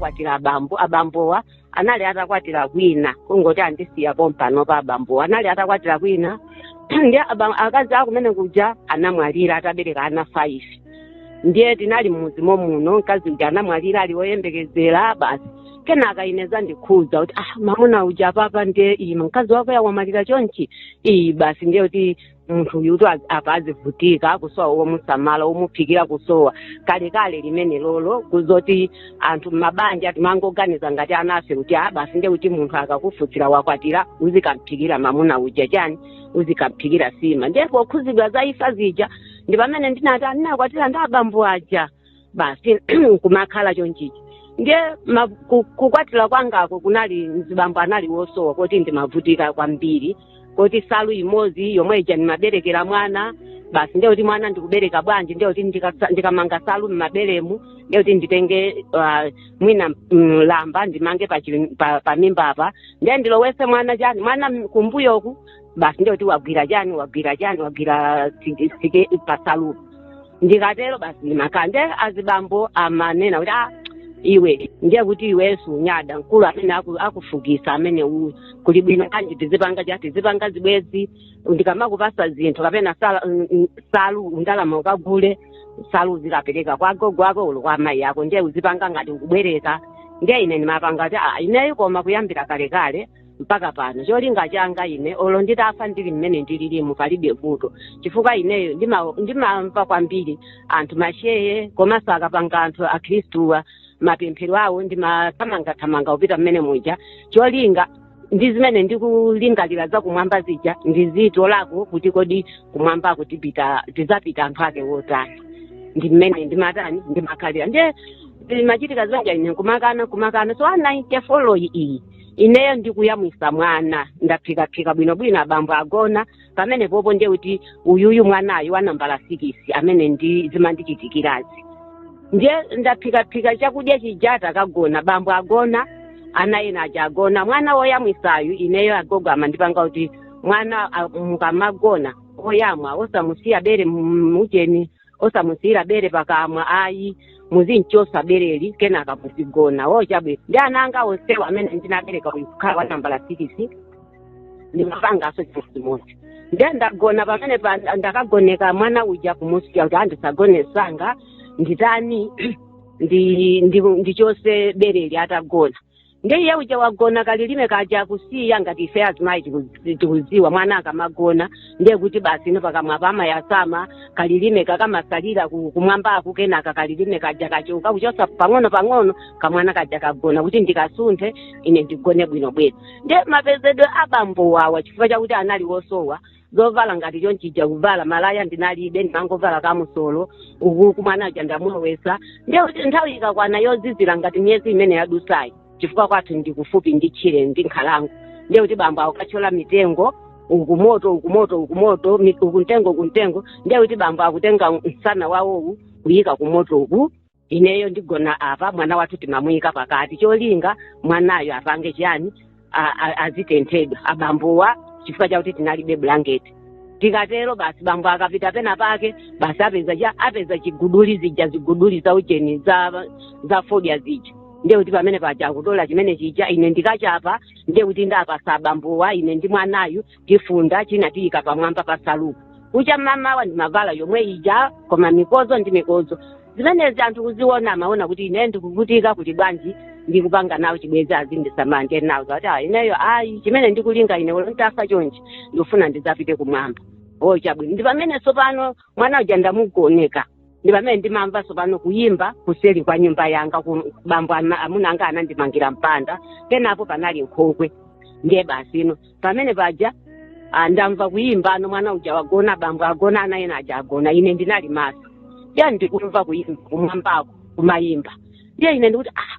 kwatira abambo abambowa anali atakwatira kwina kungoti andisiya pompano pa abambowa anali atakwatira kwina ndi aba- akazi akumene kuja anamwalira atabereka ana 5 ndiye tinali mmuzi momuno mkazi uja anamwalira ali woyembekezera basi kenaka ine ndizindikhuza kuti ah mamuna uja papa ndiye ino mkazi wake uja wamwalira chonchi iyi basi ndiye kuti munthu uyu kuti az- apa azivutika kusowa womusamala womuphikira kusowa kalekale limene lolo kuzoti anthu mmabanja timangoganiza ngati ana ife kuti a basi nde kuti munthu akakufunsira wakwatira uzikamphikira mamuna uja chani uzikamphikira sima ndipo kukhuzidwa za imfa zija ndi pamene ndinati ndinakwatira ndi abambo aja basi kumakhala chonchichi ndiye ma- ku- kukwatiwa kwangako kunali mzibamboyo anali wosowa moti ndimavutika kwambiri moti salu imodzi yomwe ija ndimaberekera mwana basi ndiye kuti mwana ndikubereka bwanji ndiye kuti ndikasa- ndikamanga salu mmaberemu ndiye kuti nditenge ah, mwina mm, lamba ndimange pa chi- pa- pa mimba apa ndiye ndilowese mwana chani mwana kumbuyoku basi ndiye kuti wagwira chani wagwira tike- tike pasalu ndikatero basi ndimakhala ndiye azibambo amanena kuti ah iwe ndiye kuti iwenso unyada mkulu amene aku- akuvutisa amene uyu kuli bwino bwanji tizipanga cha tizipanga zibwezi ndikamakupasa zinthu kapena sala- mm, mm, salu ndalama ukagule salu uzikapereka kwa gogo ako olo kwa amayi ako ndiye uzipanga ngati ukubwereka ndiye ine ndimapanga kuti ah ineyo koma kuyambira kalekale mpaka pano cholinga changa ine olo nditafa ndili mmene ndililimu palibe vuto chifukwa ineyo ndima- ndimamva kwambiri anthu masheye komanso akapanga anthu akhristuwa mapemphero awo ndimathamangathamanga kupita mmene muja cholinga ndi zimene ndikulingalira za kumwamba zija ndizitolako kuti kodi kumwamba koti tizapita anthu ake wotani ndi mmene ndimatani ndimakhalira ndiye machitika zonse ine kumakana kumakana so nayinte folo iyi ineyo ndikuyamwisa mwana ndaphikaphika bwinobwino abambo agona pamene popo ndiye kuti uyuyu mwanayu wa nambala sikisi amene zimandichitikirazi ndiye ndaphikaphika chakudya chija takagona abambo agona ana ena aja agona mwana woyamwisayu ineyo agogo amandipanga kuti mwana a- mukamagona oyamwa osamusiya bere mujeni osamusiyira bere pakamwa ayi muzimchosa bereli kenaka muzigona chabwino ndi ana anga onsewa amene ndinabereka uyu kukhala wa nambala sikisi ndimapangaso chimodzimodzi nde ndagona pamene pa ndakagoneka mwana uja kumusiya kuti ndisagone msanga nditani ndi ndi ndichose bereli atagona ndi iye uja wagona kalilime kaja kusiya ngati ife azimayi tiku- tikuziwa mwana akamagona ndiye kuti basi ino pakamwa pamayasama kalilime kakamasalira ku- kumwambaku kenaka kalilime kaja kachoka kuchosa pang'ono pang'ono kamwana kaja kagona kuti ndikasunthe ine ndigone bwino bwino ndiye mapezedwe abambo wawa chifukwa chakuti anali wosowa zovala ngati chonchija kuvala malaya ndinalibe ndimangovala kamusolo uku kumwana uja ndamulowesa ndiye kuti nthawi ikakwana yozizira ngati miyezi imene yadusayi chifukwa kwathu ndi kufupi ndi tchire ndi nkhalango ndiye kuti bambo akukathyola mitengo uku moto uku moto uku moto mi- uku mtengo uku mtengo ndiye kuti bambo akutenga msana wawowu kuyika ku moto uku ineyo ndigona apa mwana wathu timamuyika pakati cholinga mwanayo apange chiyani a- a- azitenthedwa abambowa chifukwa chakuti tinalibe bulangeti tikatero basi bambo akapita pena pake basi apeza cha apeza chiguduli zija ziguduli za ujeni za za fodya zija ndiye kuti pamene paja akutola chimene chija ine ndikachapa ndiye kuti ndapasa abambowa ine ndi mwanayu tifunda china tiyika pamwamba pa salupo kucha mamawa ndimavala yomwe ija koma mikozo ndi mikozo zimenezi anthu kuziona amaona kuti ine ndikuvutika kuti bwanji ndikupanga nawo chibwenzi azindisamala ndiye nawo ndati ah ineyo ayi chimene ndikulinga ine olo ntafa chonchi ndikufuna ndizapite kumwamba o chabwino ndi pamene tsopano mwana uja ndamugoneka ndi pamene ndimamva tsopano kuyimba kuseli kwa nyumba yanga ku- bambo ana- amuna anga anandimangira mpanda penapo panali nkhokwe ndiye basi ino pamene paja ah, ndamva kuyimba ano mwana uja wagona bambo agona ana ena aja agona ine ndinali maso ndiye ndikumva kuyimba kumwambako kumayimba ndiye ine ndikuti ah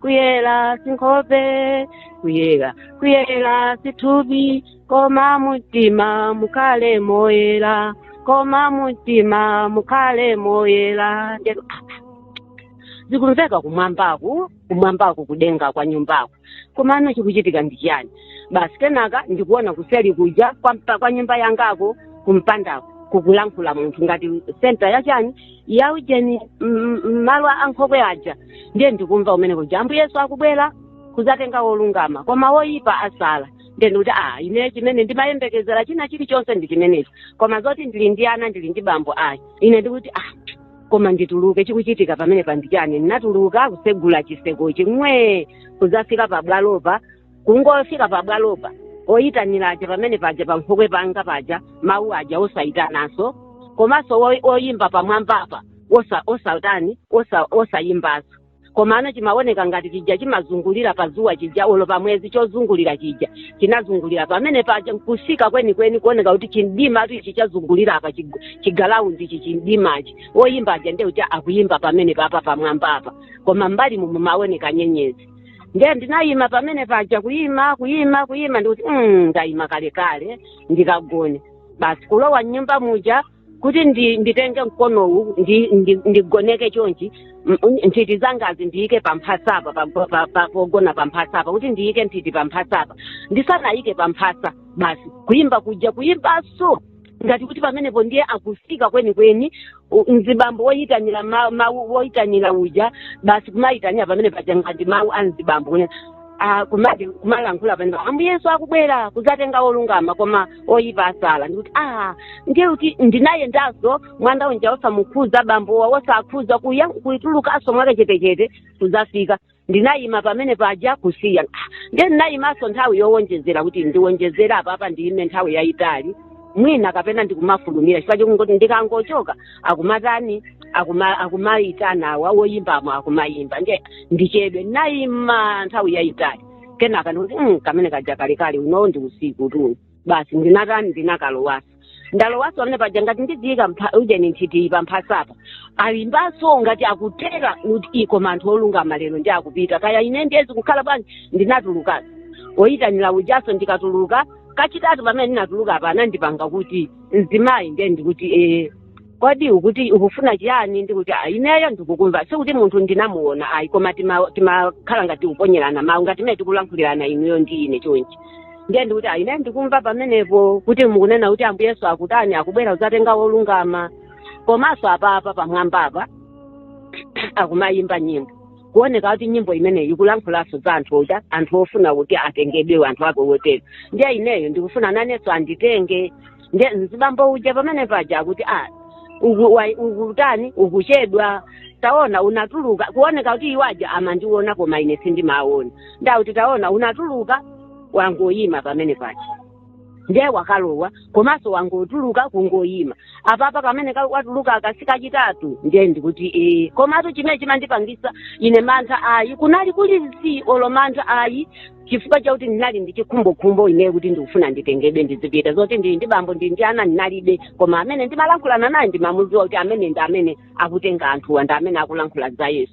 kuyera sinkhope kuyera kuyera sithupi koma mumtima mukhale moyera koma mumtima mukhale moyera Ndiyeno, zikumveka kumwambaku kumwambaku kudenga kwa nyumbako komano chikuchitika ndi chiyani basi kenaka ndikuona kuseli kuja kwa, mpa- kwa nyumba yangako kumpandako kukulankhula munthu ngati senta ya chani ya ujeni m- m- malo a nkhokwe aja ndiye ndikumva umene kuja ambuye yesu akubwera kuzatenga wolungama koma woyipa asala ndiye ndikuti a ine chimene ndimayembekezera china chilichonse ndi chimenechi koma zoti ndili ndi ana ndili ndi bambo ayi ine ndikuti a koma ndituluke chikuchitika pamene pano ndi chani ndinatuluka kusegula chisekochi mwe kuzafika pabwalopa kungofika pabwalopa oyitana aja pamene paja pa nkhokwe panga paja mawu aja osayitananso komanso wo- oyimba pamwambapa osa osatani osa osayimbanso komano chimaoneka ngati chija chimazungulira pa zuwa chija olo pa mwezi chozungulira chija chinazungulira pamene paja nkusika kwenikweni kuoneka kuti chimdima tu ichi chazungulira apa chig- chigalaundi ichi chimdimachi oyimba aja nde kuti akuyimba pamene papa pamwambapa koma mbali mumu mumaoneka nyenyezi ndiye ndinayima pamene paja kuyima kuyima kuyima ndikuti mm, ndayima kalekale ndikagone basi kulowa mnyumba muja kuti ndi, nditenge mkonowu ndi, ndi, ndigoneke chonchi m- un- nthiti zangazi ndiyike pamphasapa pa- pa- pa- pa- pogona pamphasapa kuti ndiyike nthiti pamphasapa ndisanayike pamphasa basi kuyimba kuja kuyimbaso ngati kuti pamenepo ndiye akufika kwenikweni u- mzibambo woyitanira ma- mawu woyitanira uja basi kumayitanira pamene paja ngati mawu a mzibambo kunena ah, kumati kumalankhula pamenepo ambuye yesu akubwera kuzatenga olungama koma oyipa asala ndikuti ah ndiye kuti ndinayendanso mwana uja wosamukhuza bambowa wosakhuza kuya kuitulukanso mwakachetechete kuzafika ndinayima pamene paja kusiya Ah, nde ndinayimanso nthawi yowonjezera kuti ndiwonjezere apapa ndiyime nthawi yayitali mwina kapena ndikumafulumira chifukwa chokungoti ndikangochoka akumatani akuma- akumayitana awa woyimbamo akumayimba nde ndichedwe ndinayima nthawi yayitali kenaka ndikuti "Mm, kamene kaja kalekale unowo ndi usikutu basi ndinatani ndinakalowanso ndalowaso pamene paja ngati ndidziyika mpha- ujeni nthiti pamphasapo ayimbaso ngati akutera kuti ii koma anthu olungama lero ndi akupita kaya ine ndiye zikukhala bwanji ndinatulukaso oyitanira ujaso ndikatuluka kachitatu pamene ndinatuluka apa anandipanga kuti mzimayi ndiye ndikuti ee kodi ukuti ukufuna chiyani ndikuti "Ah, ineyo ndikukumva sikuti munthu ndinamuona ayi koma tima- timakhala ngati tikuponyerana mawu ngati mene tikulankhulirana inuyo ndi ine chonchi ndiye ndikuti "Ah, ineyo ndikumva pamenepo kuti mukunena kuti ambuye yesu akutani akubwera kudzatenga wolungama komanso apapa pamwambapa akumayimba nyimbo kuoneka kuti nyimbo imeneyi ikulankhulanso za anthu oda anthu ofuna kuti atengedwe anthu ake woyera ndiye ineyo ndikufuna nanenso anditenge nde mzibambo uja pamene paja akuti a uku- wa- ukutani ukuchedwa taona unatuluka kuoneka kuti iwaja amandiona koma ine sindimawaona ndauti taona unatuluka wangoyima pamene paja ndiye wakalowa komanso wangotuluka kungoyima apapa kamene ka- watuluka aka si kachitatu ndiye ndikuti ee komatu chimene chimandipangisa ine mantha ayi kunali kulibe olo mantha ayi chifukwa chakuti ndinali ndi chikhumbokhumbo ineyo kuti ndikufuna nditengedwe ndizipita zoti ndili ndi bambo ndili ndi ana ndinalibe koma amene ndimalankhulana naye ndimamudziwa kuti amene ndi amene akutenga anthuwa ndi amene akulankhula za yesu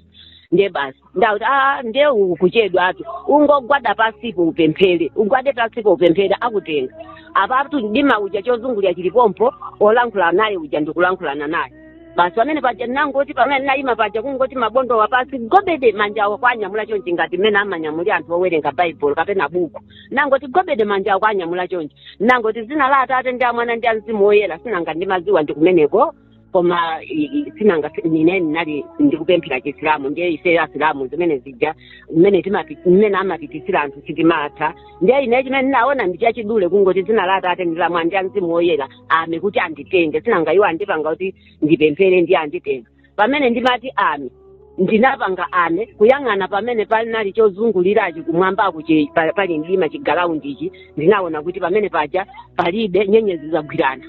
ndiye basi ndauti a ndiye ukuchedwatu ungogwada pasipo upemphere ugwade pasipo upemphere akutenga apatu mdima uja chozungulira chilipompo olankhula naye uja ndikulankhulana naye basi pamene paja ndinangoti pamene ndinayima paja kungoti mabondowa pasi gobede manjawa kuwanyamula chonchi ngati mmene amanyamulira anthu owerenga baibulo kapena buku ndinangoti gobede manjawa kuwanyamula chonchi ndinangoti dzina la atate ndi amwana ndi amzimu woyera sinanga ndimaziwa ndi kumeneko koma i- i- sinanga si- nine ndinali ndikupemphera chisilamu ndiye ife asilamu zimene zija mmene timati- mmene amachitira anthu sitimatha ndiye ine chimene ndinaona ndi chachidule kungoti dzina la atate ndi la mwana ndi amzimu woyera amen kuti anditenge sinanga iwo andipanga kuti ndipemphere ndiye anditenga pamene ndimati amen ndinapanga amen kuyang'ana pamene panali chozungulirachi kumwambaku chi- pa- pali mdima chigalawundichi ndinaona kuti pamene paja palibe nyenyezi zagwirana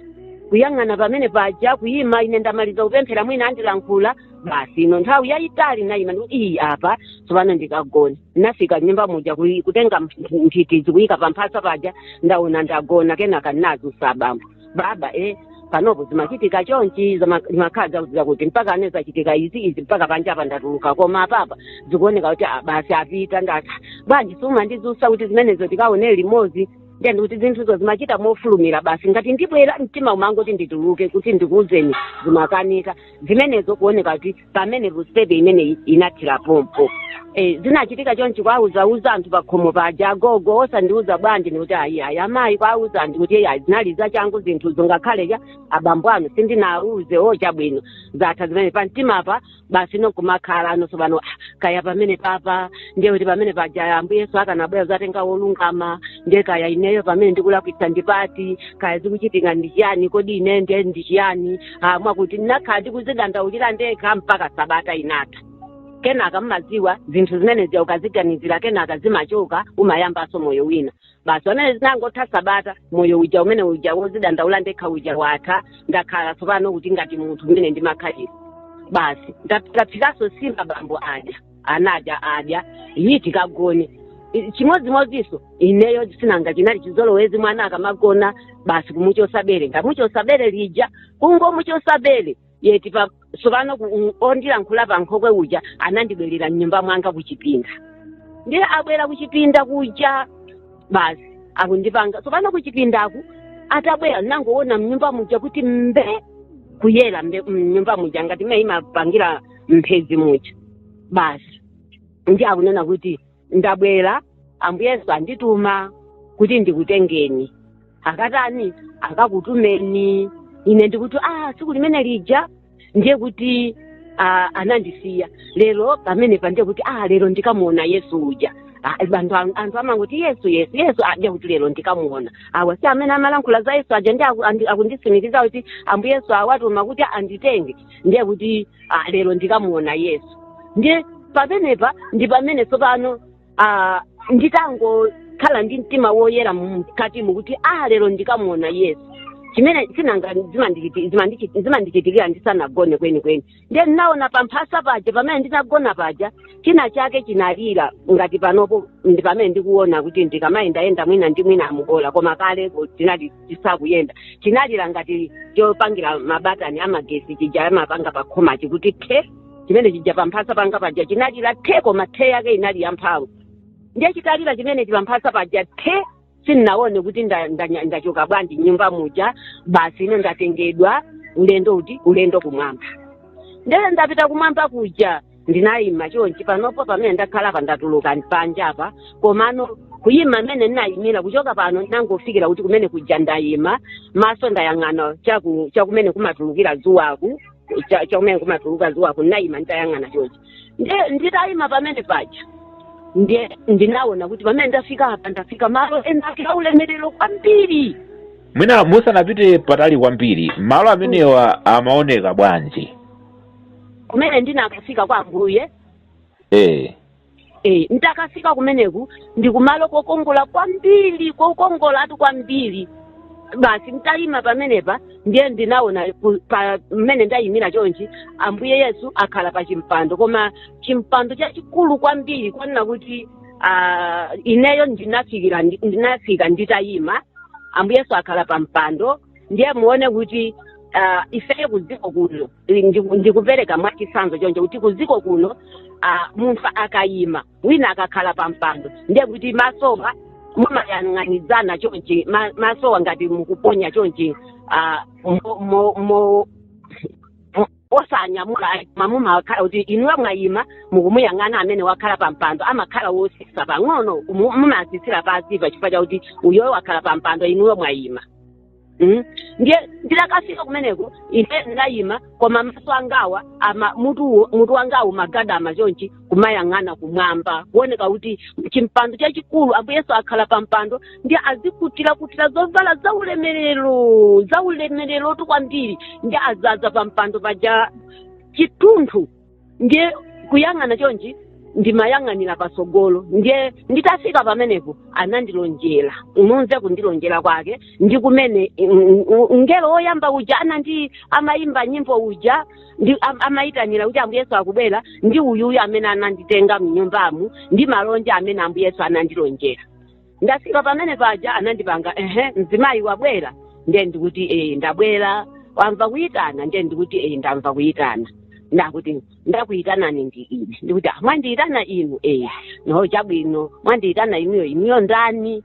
kuyang'ana pamene paja kuyima ine ndamaliza kupemphera mwina andilankhula basi ino nthawi yayitali nayima ndikuti iyi apa tsopano ndikagona ndinafika nyumba muja kuyi- kutenga mp- mphikidzi kuyika pa mphasa paja ndaona ndagona kenaka ndinazusa bambo baba e panopo zimachitika chonchi zama- zimakhala zakuziza kuti mpaka ane zachitika izi izi mpaka panja apa ndatuluka koma apapa zikuoneka kuti ah, basi apita ndati bwanji sumandizusa kuti zimenezo tikaone limodzi ndiye ndikuti zinthuzo zimachita mofulumira basi ngati ndibwera mtima umangoti ndituluke kuti ndikuuzeni zimakanika zimenezo kuoneka kuti pamene vustepe imene inathira pompo Eh, zinachitika chonchi kwauzauza anthu pakhomo paja agogo osandiuza bwanji ndikuti ayi ayi amayi kwauza anthu kuti ayi zinali zachangu zinthuzo ngakhale cha abambo anu sindinauze o chabwino zatha zimene pa mtima pa basi nokumakhala anonso pano "Ah, kaya pamene papa ndiye kuti pamene paja ambuye yesu akanabwera kuzatenga wolungama ndiye kaya ineyo pamene ndikulakwitsa ndi pati kaya zikuchitika ndi chiyani kodi ine ndiye ndi chiyani ah, mwakuti ndinakhala ndikuzidandaulira ndekha mpaka sabata inatha kenaka mmaziwa zinthu zimene zija ukaziganizira kenaka zimachoka umayambanso moyo wina basi pamene zinangotha sabata moyo uja umene uja wozidandaula ndekha uja watha ndakhala tsopano kuti ngati munthu umene ndimakhalira basi ndaphikaso sima bambo adya ana adya iyi tikagone I- chimodzimodzinso ineyo sinanga chinali chizolowezi mwana akamagona basi kumuchosa bere ndamuchosa bere lija kungomuchosa bere yeti pa sopano ku- u- ondilankhula pa nkhokwe uja anandibwerera mnyumba mwanga kuchipinda ndiye abwera kuchipinda kuja basi akundipanga sopano kuchipindaku atabwera nangoona mnyumba muja kuti mbe kuyera mbe- mnyumba muja ngati mene imapangira mphezi muja basi ndi akunena kuti ndabwera ambuye yesu andituma kuti ndikutengeni akatani akakutumeni ine ndikuti ah tsiku limene lija ndiye kuti ah, anandisiya lero pamene pandiye kuti ah lero ndikamuona yesu uja Ah, anthu am- anthu amangoti yesu yesu yesu ndiye kuti lero ndikamuona awa si amene amalankhula za yesu aja ndiye aku- andi- akundisimikiza kuti ambuye yesu awatuma kuti anditenge ndiye kuti ah, lero ndikamuona yesu ndiye pamenepa ndi pamene tsopano ah, nditangokhala ndi mtima woyera mkatimu kuti ah lero ndikamuona yesu chimene sinanga zimandichiti- zimandichi- zimandichitikira ndisanagone kwenikweni ndiye ndinaona pamphasa paja pamene ndinagona paja china chake chinalira ngati panopo ndi pamene ndikuona kuti ndikamayendayenda mwina ndi mwina amubola koma kale tina chisakuyenda chinalira ngati chopangira mabatani amagesi chija amapanga pakhoma chikuti the chimene chija pamphasa panga paja chinalira the koma the yake inali yamphamvu ndiye chitalira chimene chipamphasa paja the sindinaone kuti nda- ndanya- ndachoka bwanji mnyumba muja basi ine ndatengedwa ulendo uti ulendo kumwamba ndiye ndapita kumwamba kuja ndinayima chonchi panopo pamene ndakhala pa ndatuluka panja apa komano kuyima mmene ndinayimira kuchoka pano ndinangofikira kuti kumene kuja ndayima maso ndayang'ana chaku- chakumene kumatulukira dzuwaku cha- chakumene kumatuluka dzuwaku ndinayima nditayang'ana chonchi Ndi- nditayima pamene paja ndiye ndinaona kuti pamene ndafika apa ndafika malo ena ake aulemerero kwambiri mwina musanapite patali kwambiri malo amenewo amaoneka bwanji kumene ndinakafika kwa ambuye eh e, nditakafika kumeneku ndi kumalo kokongola kwambiri kokongolatu kwambiri basi mtayima pamenepa ndiye ndinaona ku- pa- mmene ndayimira chonchi ambuye yesu akhala pa chimpando koma chimpando chachikulu kwambiri kwanena kuti ah, ineyo ndinafikira ndi- ndinafika nditayima ambuye yesu akhala pa mpando ndiye muone kuti uh, ifeyo kudziko kuno ndi- ndikupereka mwachitsanzo choncho kuti kudziko kuno uh, munthu akayima wina akakhala pa mpando ndiye kuti masowa mumayang'anizana chonchi ma- masowa ngati mukuponya chonchi uh, mo, mo, mo, osanyamula ayi koma mumakhala kuti inuyo mwayima mukumuyang'ana amene wakhala pa mpando amakhala wosisa pang'ono mu- mumasisira pansi pa chifukwa chakuti uyoyo wakhala pa mpando inuyo mwayima Mm. ndiye ndinakafika kumeneko ine ndinayima koma maso angawa ama mutu mutu wangawu magadama chonchi kumayang'ana kumwamba kuoneka kuti chimpando chachikulu ambuye yesu akhala pa mpando ndiye azikutirakutira zovala zaulemerero zaulemererotu kwambiri ndiye azaza pa mpando paja chathunthu ndiye kuyang'ana chonchi ndimayang'anira patsogolo ndiye nditafika pamenepo anandilonjera ununze kundilonjera kwake ndi kumene mm, mm, mngelo woyamba uja anandi amayimba nyimbo uja ndi am- amayitanira kuti ambuye yesu akubwera ndi uyuyu amene anaditenga mnyumbamu ndi malonje amene ambuye yesu anandilonjera ndafika pamene paja anandipanga ehe mzimayi wabwera ndiye ndikuti ee ndabwera wamva kuyitana ndiye ndikuti ee ndamva kuyitana akuti ndakuyitana ndi ine ndikuti "Ah, mwandiyitana inu ee no chabwino mwandiyitana inuyo inuyo ndani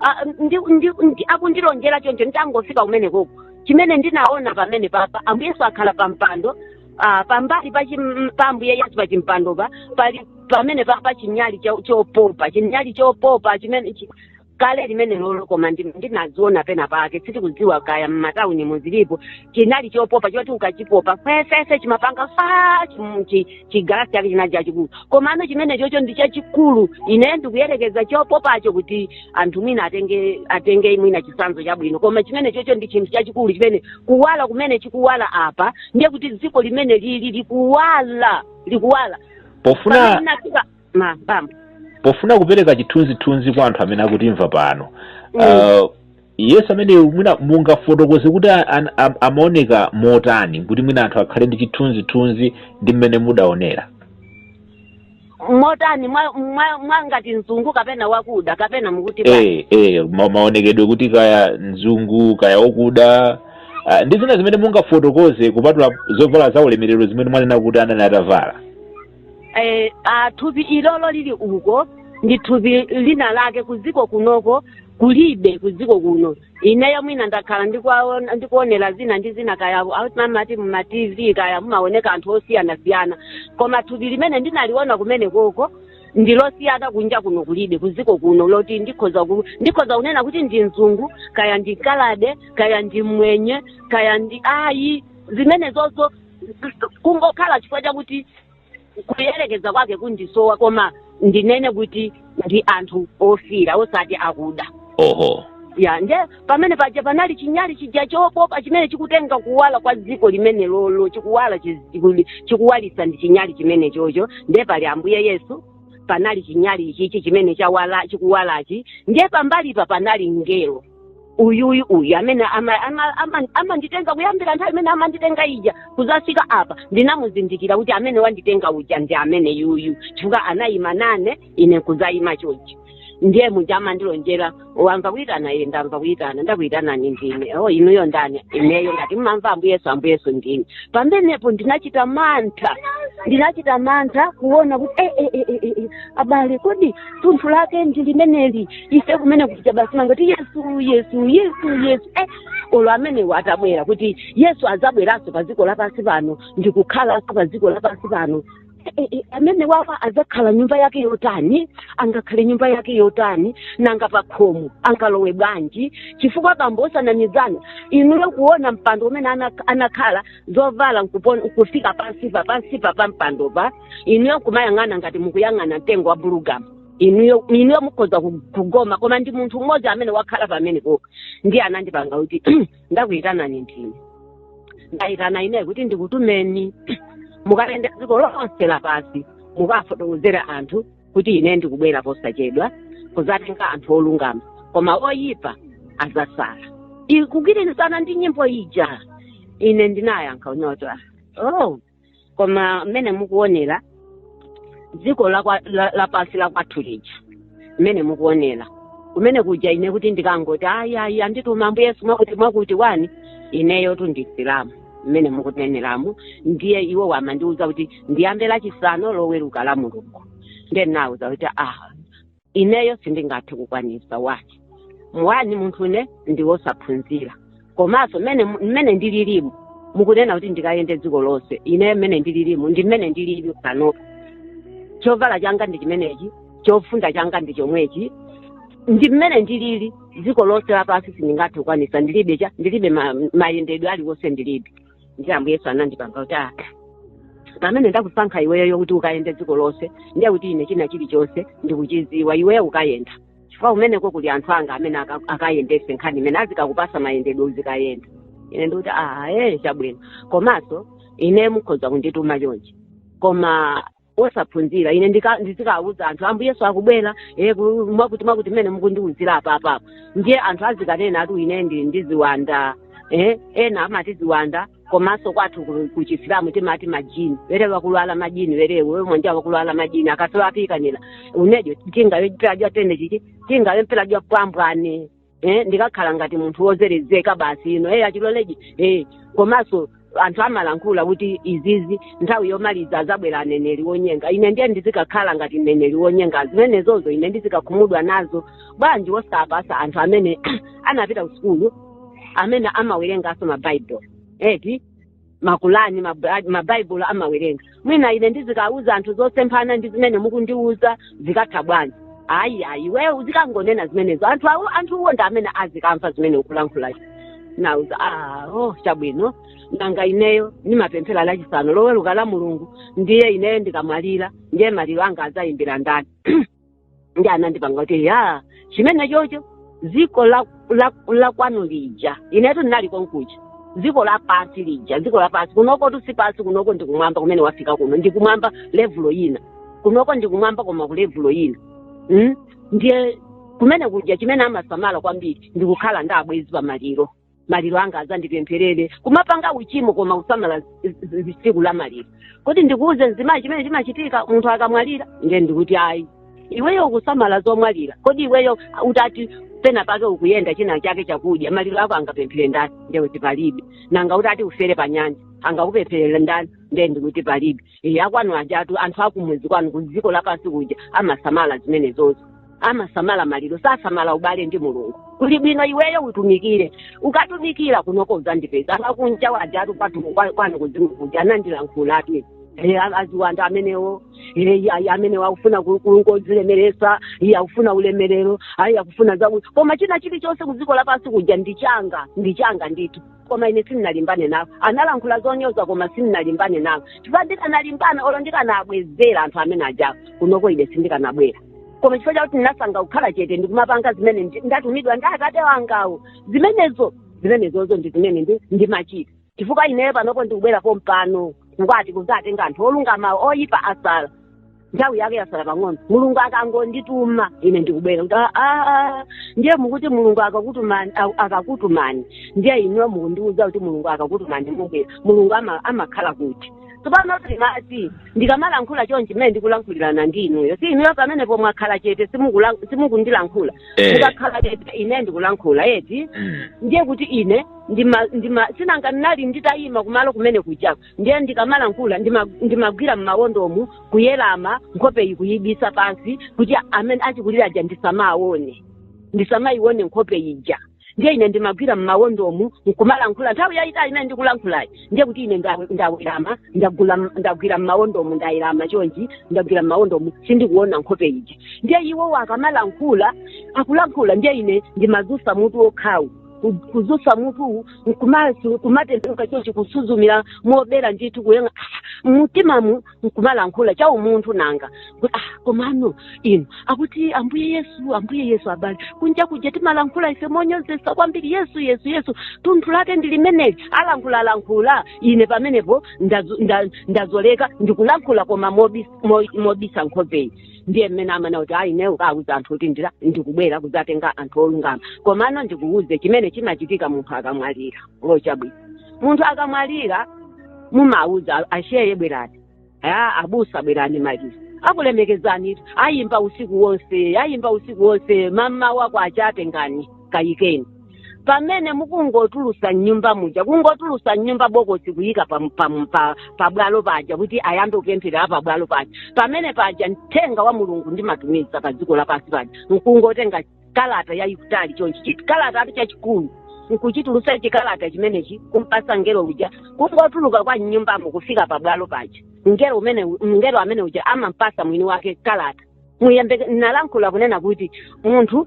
Ah, ndi- ndi- ndi- akundilonjera choncho nditangofika kumene koko chimene ndinaona pamene papa ambuye yesu akhala pa mpando ah, pambali pa chim- pa ambuye yesu pa chimpandopa pali pamene papa chinyali cho- chopopa chinyali chopopa chimene chi- kale limene lolo koma ndi- ndinaziona pena pake sitikudziwa kaya m'matawuni muzilipo chinali chopopa choti ukachipopa fefefe chimapanga fa chim- chi- chigalasi chake chinali chachikulu komano chimenechocho ndi chachikulu ine ndikuyerekeza chopopacho kuti anthu mwina atenge atenge mwina chisanzo chabwino koma chimenechocho ndi chinthu chachikulu chimene kuwala kumene chikuwala apa ndiye kuti dziko limene lili likuwala likuwala pofuna Pamene ndinafika- ma bambo pofuna kupereka chithunzithunzi kwa anthu amene akutimva pano Mm. uh, yesu amene mwina mungafotokoze kuti a- an- am- amaoneka motani kuti mwina anthu akhale ndi chithunzithunzi ndi mmene mudaonera motani mwa- mwa- mwangati mzungu kapena wakuda kapena mukuti bwa- eh, eh, ma- maonekedwe kuti kaya mzungu kaya wakuda uh, ndi zina zimene mungafotokoze kupatula zovala za ulemerero zimene mwanena kuti anali atavala eh, ah, thupi ilolo lili uko ndi thupi lina lake kudziko kunoko kulibe kudziko kuno ineyo mwina ndakhala ndikuwaona- ndikuonera zina ndi zina kaya amati muma tv kaya mumaoneka anthu osiyanasiyana koma thupi limene ndinaliona kumene koko ndilosiyana kunja kuno kulibe kudziko kuno loti ndikhoza ku, ndikhoza kunena kuti ndi mzungu kaya ndi kaladi kaya ndi mmwenye kaya ndi ayi zimene zozo kungokhala chifukwa chakuti kuyerekeza kwake kundisowa koma ndinene kuti ndi anthu ofira osati akuda oho ya nde pamene paja panali chinyali chija chopopa chimene chikutenga kuwala kwa dziko limene lolo chikuwala chi- chiku- chikuwalitsa ndi chinyali chimene chocho nde pali ambuye yesu panali chinyali ichichi chimene chawala chikuwalachi nde pambalipa panali mngelo uyu uyu uyu amene ama- ama- ama- amanditenga kuyambira nthawi imene amanditenga ija kuzafika apa ndinamuzindikira kuti amene wanditenga uja ndi amene yuyu chifukwa anayima nane ine kuzayima chochi ndiye muja amandilonjera wamva kuyitana eee ndamva kuyitana ndakuyitanani ndine o inuyo ndani ineyo ngati mmamva ambuyesu ambuyesu ndine pamenepo ndinachita mantha ndinachita mantha kuona kuti eh, eh, eh, eh, eh, abale kodi thunthu lake ndi limeneli ife kumene kuja basi timangoti yesu yesu yesu yesu eh, olo amenewa atabwera kuti yesu azabweranso pa dziko lapansi pano ndikukhalanso pa dziko lapansi pano Eh, eh, eh, amene wawa azakhala nyumba yake yotani angakhale nyumba yake yotani nanga pa khomo angalowe bwanji chifukwa bambo osanamizana inuyo kuona mpando umene ana- anakhala zovala nkupon- kufika pansipa pansipa pa mpandopa inuyo kumayang'ana ngati mukuyang'ana mtengo wa bulugamu inuyo inuyo mukhoza ku- kugoma koma ndi munthu mmodzi amene wakhala pamenepoka ndiye anandipanga kuti ndakuyitanani ndine ndayitana ineyo kuti ndikutumeni mukayenda dziko lonse lapansi mukafotokozere anthu kuti ine ndikubwera posachedwa kuzatenga anthu olungama koma oyipa azasala kugwirizana ndi nyimbo ija ine ndinayankha unyota oh koma mmene mukuonera dziko lakwa- la- lapansi la kwathu lija mmene mukuonera kumene kuja ine kuti ndikangoti ayi ayi andituma ambuye yesu mwakuti mwakuti wani ineyotu ndi msilamu mmene mukuneneramu ndiye iwo wamandiuza kuti ndiyambe lachisanu loweruka lamulungu ndiye ndinauza kuti ah ineyo sindingathe kukwanisa wani wani munthune ndiwosaphunzira komanso mmene mmene ndililimu mukunena kuti ndikayende dziko lonse ineyo mmene ndililimu ndi mmene ndilili panopo chovala changa ndi chimenechi chofunda changa ndi chomwechi ndi mmene ndilili dziko lonse lapansi sindingathe kukwanisa ndilibe cha ndilibe ma- mayendedwe aliwonse ndilibe ndiye ambuye yesu anandipanga kuti ah pamene ndakusankha iweyo kuti ukayende dziko lonse ndiye kuti ine china chilichonse ndikuchiziwa iweyo ukayenda chifukwa kumeneko kuli anthu anga amene aka- akayendese nkhani imene azikakupasa mayendedwe uzikayenda ine ndikuti ah ee chabwino komanso ine mukhoza kundituma chonchi koma osaphunzira ine ndika- ndizikawuza anthu ambuye yesu akubwera eh, ku- mwakuti mwakuti mmene mukundiwuzira apapapa ndiye anthu azikanena ati ine ndi ndi ziwanda eh, ena amati ziwanda komanso kwathu ku- ku chisilamu timati majini werewo wakulwala majini werewo we mwanja wakulwala majini akasawapikanira unejo tingawe mpela jwatende chichi tingawe mpela jwa pambwane eh, ndikakhala ngati munthu wozerezeka basi ino eh, achiloleji eh, komanso anthu amalankhula kuti izizi nthawi yomaliza azabwera aneneri wonyenga ine ndiye ndizikakhala ngati mneneri wonyenga zimenezozo ine ndizikakhumudwa nazo bwanji wosapasa anthu amene anapita kusukulu amene amawerenganso mabaibulo eti makulani mabra- mabaibulo amawerenga mwina ine ndizikauza anthu zosemphana ndi zimene mukundiuza zikatha bwanji ayi ayi iweyo uzikangonena zimenezo anthu awo anthuwo ndi amene azikamva zimene ukulankhulazi nauza ah, oh chabwino nanga ineyo ndimapemphera lachisanu loweruka lamulungu ndiye ineyo ndikamwalira ndiye maliro anga azayimbira ndani ndi anandipanga kuti ya chimenechocho dziko la, la, la kwanu lija inetu ndinali konkuja dziko la pansi lija dziko la pansi kunokotu si pansi kunoko ndi kumwamba kumene wafika kuno ndi kumwamba levulo ina kunoko ndi kumwamba koma ku levulo ina mm? ndiye kumene kuja chimene amasamala kwambiri ndi kukhala ndi abwezi pamaliro maliro anga azandipempherere kumapanga uchimo koma kusamala zi- zi- zi- tsiku la maliro kodi ndikuuze mzimayi chimene chimachitika munthu akamwalira ndiye nkuti ayi iweyo ukusamala zomwalira kodi iweyo utati pena pake ukuyenda china chake chakudya maliro ako angapemphere ndani ndiye kuti palibe nanga utati ufere pa nyanja angakupempherera ndani ndiye ndikuti palibe e, akwanu ajatu anthu akumudzi kwanu ku dziko lapansi kuja amasamala zimenezo amasamala maliro sasamala ubale ndi mulungu kuli bwino iweyo utumikire ukatumikira kunoko uzandipeza akunja wajatu kwatu kwa- kwanu kuzimu kuja anandilankhulatu Eh, a- aziwanda amenewo eh, ayi amenewo akufuna kungodzilemeretsa iye akufuna ulemerero ayi akufuna zaku koma china chilichonse kudziko lapansi kuja ndichanga ndichanga ndithu koma ine sindinalimbane nawo analankhula zonyoza koma sindinalimbane nawo chifukwa ndikanalimbana olo ndikanabwezera anthu amene ajawo kunoko ine sindikanabwera koma chifukwa chakuti ndinasankha kukhala chete ndikumapanga zimene ndi- ndatumidwa ndi atate wangawo zimenezo zimenezozo ndi zimene ndi- ndimachita chifukwa ineyo panopo ndikubwera pompano ngati kuzatenga anthu olungama oyipa asala nthawi yake yasala pang'ono mulungu akangondituma ine ndikubwera kuti "Ah, ah, ah." ndiye mukuti mulungu akakutumani a- akakutumani ndiye inuyo mukundiuza kuti mulungu akakutumani mubwera mulungu ama- amakhala kuti tsopano timati ndikamalankhula chonchi mmene ndikulankhulirana ndi inuyo si inuyo pamenepo mwakhala chete simukula- simukundilankhula Eh. mukakhala chete ine ndikulankhula eti Mm. ndiye kuti ine ndima ndima sinanga ndinali nditayima kumalo kumene kujako ndiye ndikamalankhula ndima- ndimagwira m'mawondomu kuwerama nkhope iyi kuyibisa pansi kuti amene achikulira aja ndisamawaone ndisamayione nkhope ija ndiye ine ndimagwira m'mawondomu nkumalankhula nthawi yayitali imene ndikulankhulayi ndiye kuti ine nda- ndawerama ndagula- ndagwira m'mawondomu ndawerama chonchi ndagwira m'mawondomu sindikuona nkhope ija ndiye iwowo akamalankhula akulankhula ndiye ine ndimazusa mutu wokhawu ku- kuzutsa mutu nkumasu- kumatembenuka chochi kusuzumira mobera ndithu kuyenga mumtimamu nkumalankhula cha umunthu nanga kuti ah komano inu akuti ambuye yesu ambuye yesu abale kunja kuja timalankhula ife monyozesa kwambiri yesu yesu yesu tunthu lake ndi limeneli alankhula lankhula ine pamenepo ndazo- nda- ndazolika ndikulankhula koma mobis- mo- mobisa nkhopeyi ndiye mmene amana kuti ayi ineyo ukawuza anthu kuti ndira ndikubwera kudzatenga anthu olungama komano ndikuwuze chimene chimachitika munthu akamwalira chabwino munthu akamwalira mumawuza ashehe bwerani a abusa bwerani maliro akulemekezani ayimba usiku wonse ayimba usiku wonse mmawa wake achatengani kayikeni pamene mukungotulusa mnyumba muja kungotulusa mnyumba bokosi kuyika pa, pa, pa, pa bwalo paja kuti ayambe kupemphera pa bwalo paja pamene paja mthenga wa mulungu ndimatumiza pa dziko lapansi paja nkungotenga kalata yayikutali chonchi chikalatatu chachikulu nkuchitulusa chikalata chimenechi kumpasa ngelo uja kungotuluka kwa mnyumbamo kufika pa bwalo paja ngelo umene ngelo amene uja amampasa mwini wake kalata muyambe nalankhula kunena kuti munthu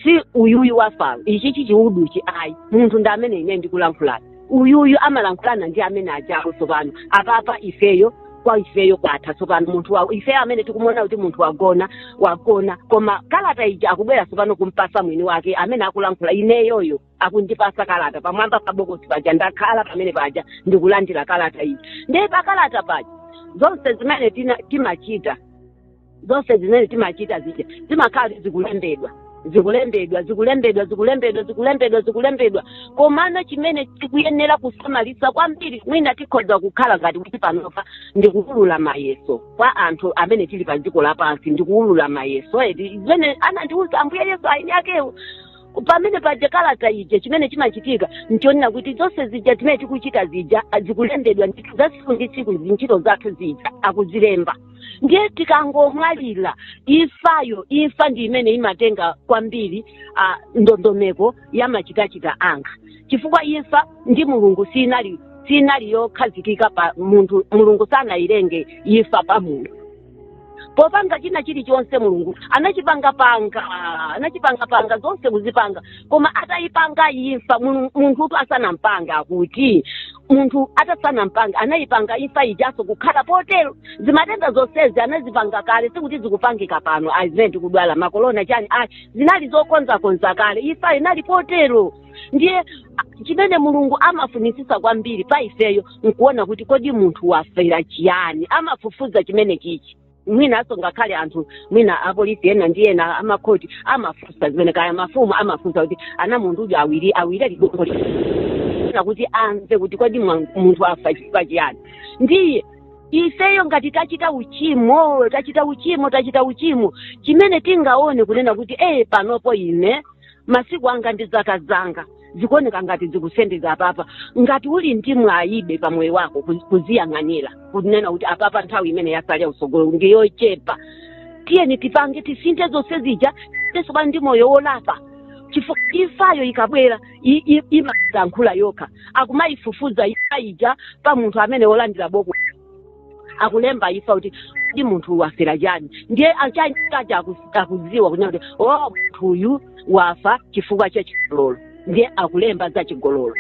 si uyuyu wafayo ichi chichiuduchi ayi munthu ndi amene ine ndikulankhulana uyuyu amalankhulana ndi amene ajawo tsopano apapa ifeyo kwa ifeyo kwatha tsopano munthu wa ifeyo amene tikumuona kuti munthu wagona wagona koma kalata ija akubwera tsopano kumpasa mwini wake amene akulankhula ineyoyo akundipasa kalata pamwamba pa bokosi paja ndakhala pamene paja ndikulandira kalata ija ndiye pa kalata paja zonse zimene tina- timachita zonse zimene timachita zija zimakhala zikulembedwa zikulembedwa zikulembedwa zikulembedwa zikulembedwa zikulembedwa komano chimene tikuyenera kusamalisa kwambiri mwina tikhoza kukhala ngati kuti panopa ndikuwulula mayeso kwa anthu amene tili pa dziko lapansi ndikuwulula mayeso edi zimene anandiwuza ambuye yesu ayini akewo pamene paja kalata ija chimene chimachitika nchonena kuti zonse zija zimene tikuchita zija zikulembedwa ndithu za tsiku ndi tsiku zintchito zathu zija akuzilemba ndiye tikangomwalira imfayo imfa ndi imene imatenga kwambiri ah, ndondomeko ya machitachita anga chifukwa imfa ndi mulungu sinali sinali yokhazikika pa munthu mulungu sanayilenge imfa pa munthu popanga china chilichonse mulungu anachipangapanga anachipangapanga zonse kuzipanga koma atayipanga imfa Mulungu- munthutu asanampange akuti munthu atasanampange anayipanga imfa ijaso kukhala potero zimatenda zonsezi anazipanga kale sikuti zikupangika pano ayi zimene tikudwala makolona chani ayi zinali zokonzakonza kale imfa inali potero ndiye a- chimene mulungu amafunisisa kwambiri pa ifeyo nkuona kuti kodi munthu wafera chiyani amafufuza chimene chichi mwinanso ngakhale anthu mwina apolisi ena ndi ena amakhoti amafunsa zimene kaya mafumu amafunsa kuti ana mundujo awile ligongo kuti amve kuti kodi mwa- munthu afa chifukwa chiyani ndiye ifeyo ngati tachita uchimo tachita uchimo tachita uchimo chimene tingaone kunena kuti ee panopo ine masiku anga ndi zaka zanga zikuoneka ngati zikusendeza apapa ngati uli ndi mwayibe pa moyo wako kuzi- kuziyang'anira kunena kuti apapa nthawi imene yasalira usogolo ndi yochepa tiyeni tipange tisinthe zonse zija teso pano ndi moyo wolapa chifukwa imfayo ikabwera i- i- imayankhula yokha akumayifufuza imfa ija pa munthu amene wolandira boko akulemba imfa kuti ndi munthu uyu wafera chani ndiye achani aja akuz- akuziwa kunena kuti o munthu uyu wafa chifukwa cha chigololo ndiye akulemba za chigololo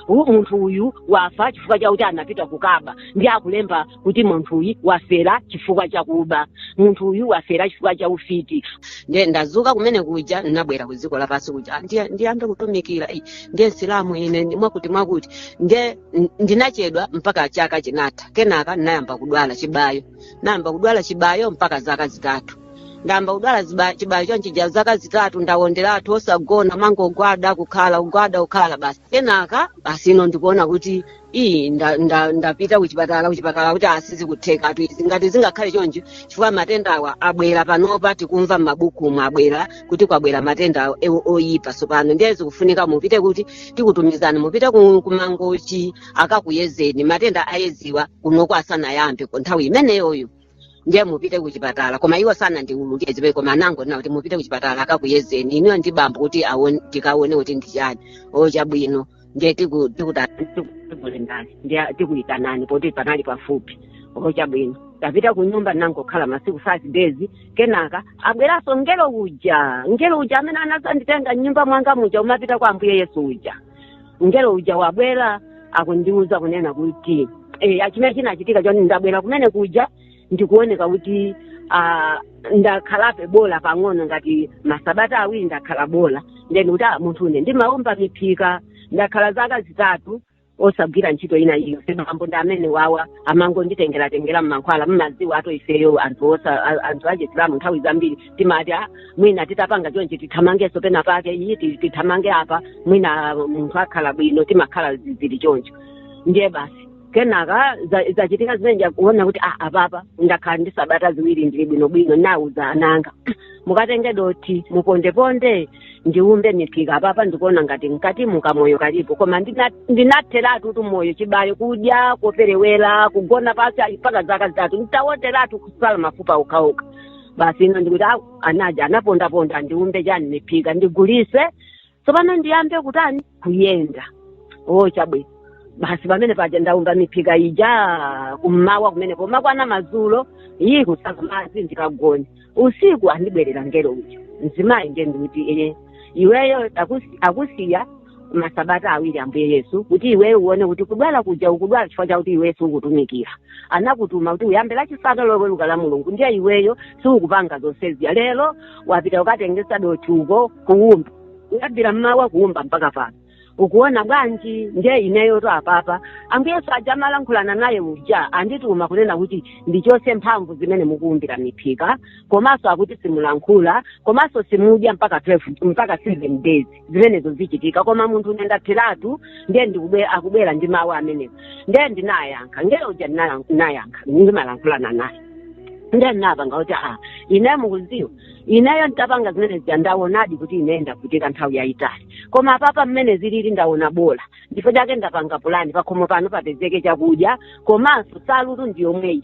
U- munthu uyu wafa chifukwa chakuti anapita kukaba ndiye akulemba kuti munthu uyu wafera chifukwa chakuba munthu uyu wafera chifukwa cha ufiti ndiye ndazuka kumene kuja ndinabwera ku dziko lapansi kuja ndiyambe kutumikira Ei, ndiye msilamu ine ndi- mwakuti mwakuti ndiye n- ndinachedwa mpaka chaka chinatha kenaka ndinayamba kudwala chibayo ndayamba kudwala chibayo mpaka zaka zitatu ndayamba kudwala ziba- chibayo chonchija zaka zitatu ndawonderatu osagona kumangogwada kukhala kugwada kukhala basi kenaka basi ino ndikuona kuti iyi nda- nda- ndapita kuchipatala kuchipatala kuti a sizikutheka atu izi ngati zingakhale choncho chifukwa matendawa abwera panopa tikumva m'mabukumu abwera kuti kwabwera matenda ewo oyipa tsopano ndiye zikufunika mupite kuti tikutumizani mupite ku- ku Mangochi akakuyezeni matenda ayeziwa kunoko asanayambe ku nthawi imeneyoyo ndiye mupite kuchipatala koma iwo sanandiululire koma anangonena kuti mupite kuchipatala akakuyezeni inuyo ndi bambo kuti aone- tikaone kuti ndi chani o chabwino ndiye tiku- tikuta- tiku- tikuitani ndiye tikuitanani poti panali pafupi o chabwino tapita kunyumba ndinangokhala masiku five days kenaka abweranso ngelo uja ngelo uja amene anazanditenga m'nyumba mwanga muja kumapita kwa ambuye yesu uja mngelo uja wabwera akundiuza kunena kuti eh, a chimene chinachitika choti ndabwera kumene kuja ndikuoneka kuti ah, ndakhalako bola pang'ono ngati masabata awiri ndakhala bola nde ndikuti ah, munthune ndimaumba miphika ndakhala zaka zitatu osagwira ntchito ina iliyonse bambo ndi amene wawa amangonditengeratengera mmankhwala mmaziwatu ifeyo anthu osa a- anthu achisilamu nthawi zambiri timati "Ah, mwina titapanga chonchi tithamangenso pena pake iyi ti- tithamange apa mwina munthu akhala bwino timakhala zi- zili choncho ndiye basi kenaka za- zachitika zimene kuona kuti ah, apapa ndakhala ndi sabata ziwiri ndili bwinobwino nauza ana anga mukatenge dothi mupondeponde ndiumbe miphika apapa ndikuona ngati m'katimu kamoyo kalipo koma ndina- ndinatheratu kuti moyo chibayo kudya koperewera kugona pasi ali mpaka zaka zitatu nditawonderatu kusala mafupa okhaokha basi ino ndikuti au anaja anapondaponda ndiumbe chani miphika ndigulise tsopano ndiyambe kutani kuyenda o chabwino basi pamene paja ndaumba miphika ija kummawa kumene pomakwana mazulo iyi kusamba madzi ndikagone usiku andibwerera ngelo uja mzimayi nde ndikuti ee iweyo akusi- akusiya masabata awiri ambuye yesu kuti iweyo uone kuti kudwala kuja ukudwala chifukwa chakuti iweyo siukutumikira anakutuma kuti uyambe lachisanu loweruka la mulungu ndiye iweyo siukupanga zonsezi lero wapita ukatenge dothi uko kuumba kuyambira mmawa kuumba mpaka pano ukuona bwanji ndiye ineyo to apapa ambuye yesu aja amalankhulana naye uja andituma kunena kuti ndichose mphamvu zimene mukuumbira miphika komanso akuti simulankhula komanso simudya mpaka 12 mpaka 7 days zimenezo zichitika koma munthune ndapheratu ndiye ndikubwe- akubwera ndi mawu amenewo ndiye ndinayankha ngelo uja ndinala- ndinayankha ndimalankhulana naye ndiye ndinapanga kuti ineyo mukuziwa ineyo nditapanga zimene zija ndawonadi kuti ine ndavutika nthawi yayitali koma apapa mmene zilili ndawona bola nchifukwa chake ndapanga pulani pakhomo pano papezeke chakudya komanso salutu ndiyomweyi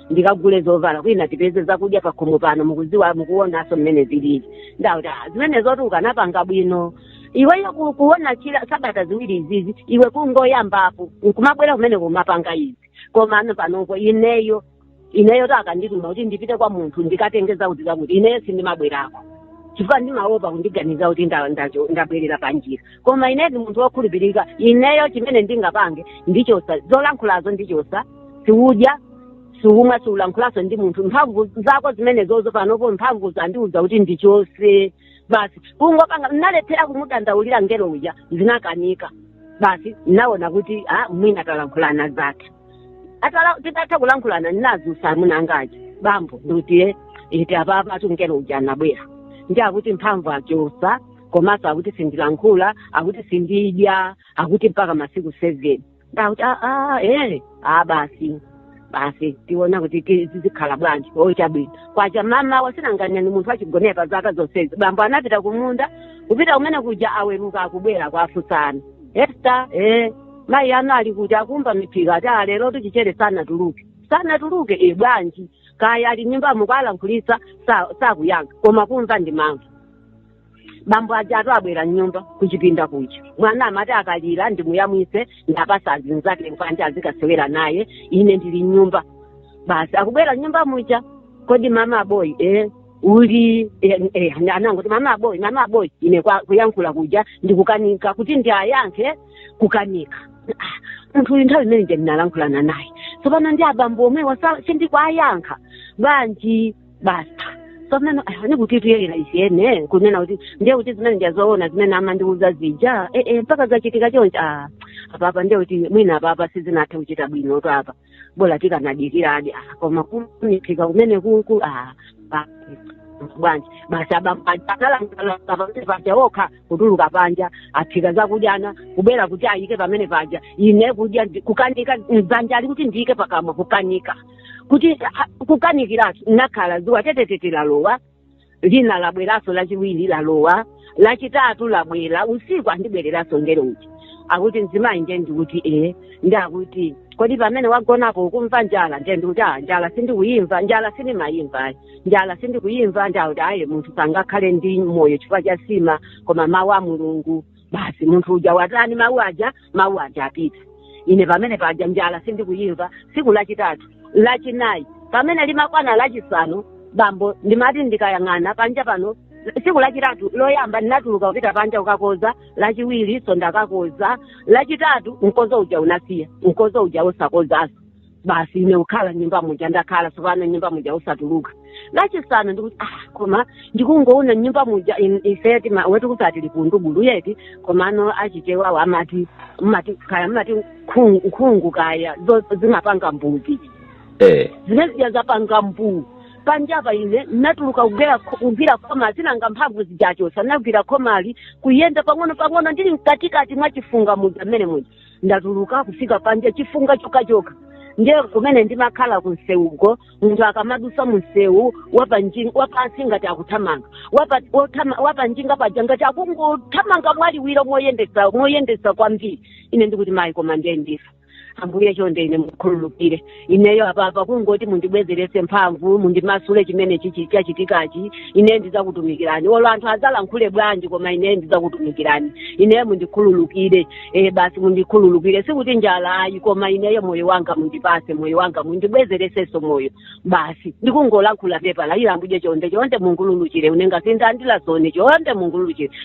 ndikagule zovala kwina tipeze zakudya pakhomo pano mukuziwa mukuonaso mmene zilili ndakuti "Ah, zimenezotu ukanapanga bwino iweyo ku- kuona chila sabata ziwiri izizi iwe kungoyambapo nkumabwera kumene kumapanga izi komano panopo ineyo ineyo to akandituma kuti ndipite kwa munthu ndikatenge zakuti zakuti ineyo sindimabwerako chifukwa ndimaopa kundiganiza kuti nda- ndacho- ndabwerera panjira koma ine ndi munthu wokhulupirika ineyo chimene ndingapange ndichosa zolankhulazo ndichosa siudya siumwa siulankhulanso ndi munthu mphamvu zako zimene zozo panopo mphamvu zandiuza kuti ndichose basi kungopanga nalephera kumudandaulira ngelo uja zinakanika basi naona kuti ah, mwina talankhulana zake atala titatha kulankhulana ndinazusa mnzanga uja bambo ndikuti iti apapa tu ngelo uja anabwera ndi akuti mphamvu achosa komanso akuti sindilankhula akuti sindidya akuti mpaka masiku seven ndakuti aa ee a basi basi tiona kuti ti- zizikhala bwanji o chabwino kwacha mama wasinanganya ni munthu achigonere pa zaka zonsezi bambo anapita kumunda kupita kumene kuja aweruka akubwera kwafunsana Esther ee mayi anu ali kuti akuumba miphika ati lero tichichere sanatuluke sanatuluke e bwanji kaya ali nyumbamo mukawalankhulisa sa- sakuyankha koma kumva ndimamva bambo ajatu abwera mnyumba kuchipinda kuja mwana amati akalira ndimuyamwise ndapasa azinzake panja azikasewera naye ine ndili mnyumba basi akubwera mnyumba muja kodi mama aboyi eh, uli eh, eh, anangoti mama aboyi mama aboyi ine kwa- kuyankhula kuja ndikukanika kuti ndiayankhe kukanika Ah, munthu uyu nthawi imene ndinalankhulana naye tsopano ndi abambo omwewa sa- sindikwayankha bwanji basi tsopano ah, ni kuti tuyelera ichiyene kunena kuti ndiye kuti zimene ndizoona zimene amandiuza zija eh, eh, mpaka zachitika chonchi ah, apapa ndiye kuti mwina apapa sizinathe kuchita bwinotu apa bola tikanadikiradi ah, koma kuphika kumene kuku ah, pa- bwanji basi abambo pamene paja okha kutuluka panja aphika zakudya kubwera kuti ayike pamene paja ine kudya ndi- kukanika dzanja ili kuti ndiyike pakamwa kukanika kuti ha- kukanikiratu nakhala dzuwa tetetete lalowa lina labweranso lachiwiri lalowa lachitatu labwera usiku andibwereranso angelo uti akuti mzimayi ndiye ndikuti ee ndi akuti kodi pamene wagonapo ukumva njala ndiye ndikuti a njala sindikuyimva njala sindimayimva ayi njala sindikuyimva ndi akuti ayi munthu sangakhale ndi moyo chifukwa cha sima koma mawu a mulungu basi munthu uja watani mawu aja mawu aja apita ine pamene paja njala sindikuyimva tsiku lachitatu lachinayi pamene limakwana lachisanu bambo ndimati ndikayang'ana panja pano tsiku lachitatu loyamba ndinatuluka kupita panja kukakoza lachiwirinso ndakakoza lachitatu mkozo uja unasiya mkozo uja osakozanso basi ine kukhala nyumba muja ndakhala tsopano nyumba muja osatuluka lachisanu ndikuti ah koma ndikungoona nyumba muja in- ife tima- kwathu timati likungubulu eti komano achichewawo amati mumati kaya mumati nkhungu nkhungu kaya zo- zimapanga mbuu eh zimene zija zapanga mbuu panjapa ine natuluka kugwera kho- kugwira khoma si nanga mphamvu zija zosa- nagwira khoma ili kuyenda pang'ono pang'ono ndili mkatikati mwa chifunga muja mmene muja ndatuluka kufika panja chifunga chokhachokha ndiye kumene ndimakhala kunsewuko munthu akamadusa munsewu wapanji- wapansi ngati akuthamanga Wapa- wothama- wapanjinga paja ngati akungothamanga mwaliwiro moyendesa moyendesa kwambiri ine ndikuti mayi koma ndiye ndifa ambuye chonde ine mundikhululukire ineyo apapa kungoti mundibwezeretse mphamvu mundimasule chimene chichi- chachitikachi ine ndizakutumikirani olo anthu azalankhule bwanji koma ine ndizakutumikirani ineyo mundikhululukire e basi mundikhululukire sikuti njala ayi koma ineyo moyo wanga mundipase moyo wanga mundibwezeresenso moyo basi ndikungolankhula pepani ambuye chonde chonde mundikhululukire unenga sindandila zone chonde mundikhululukire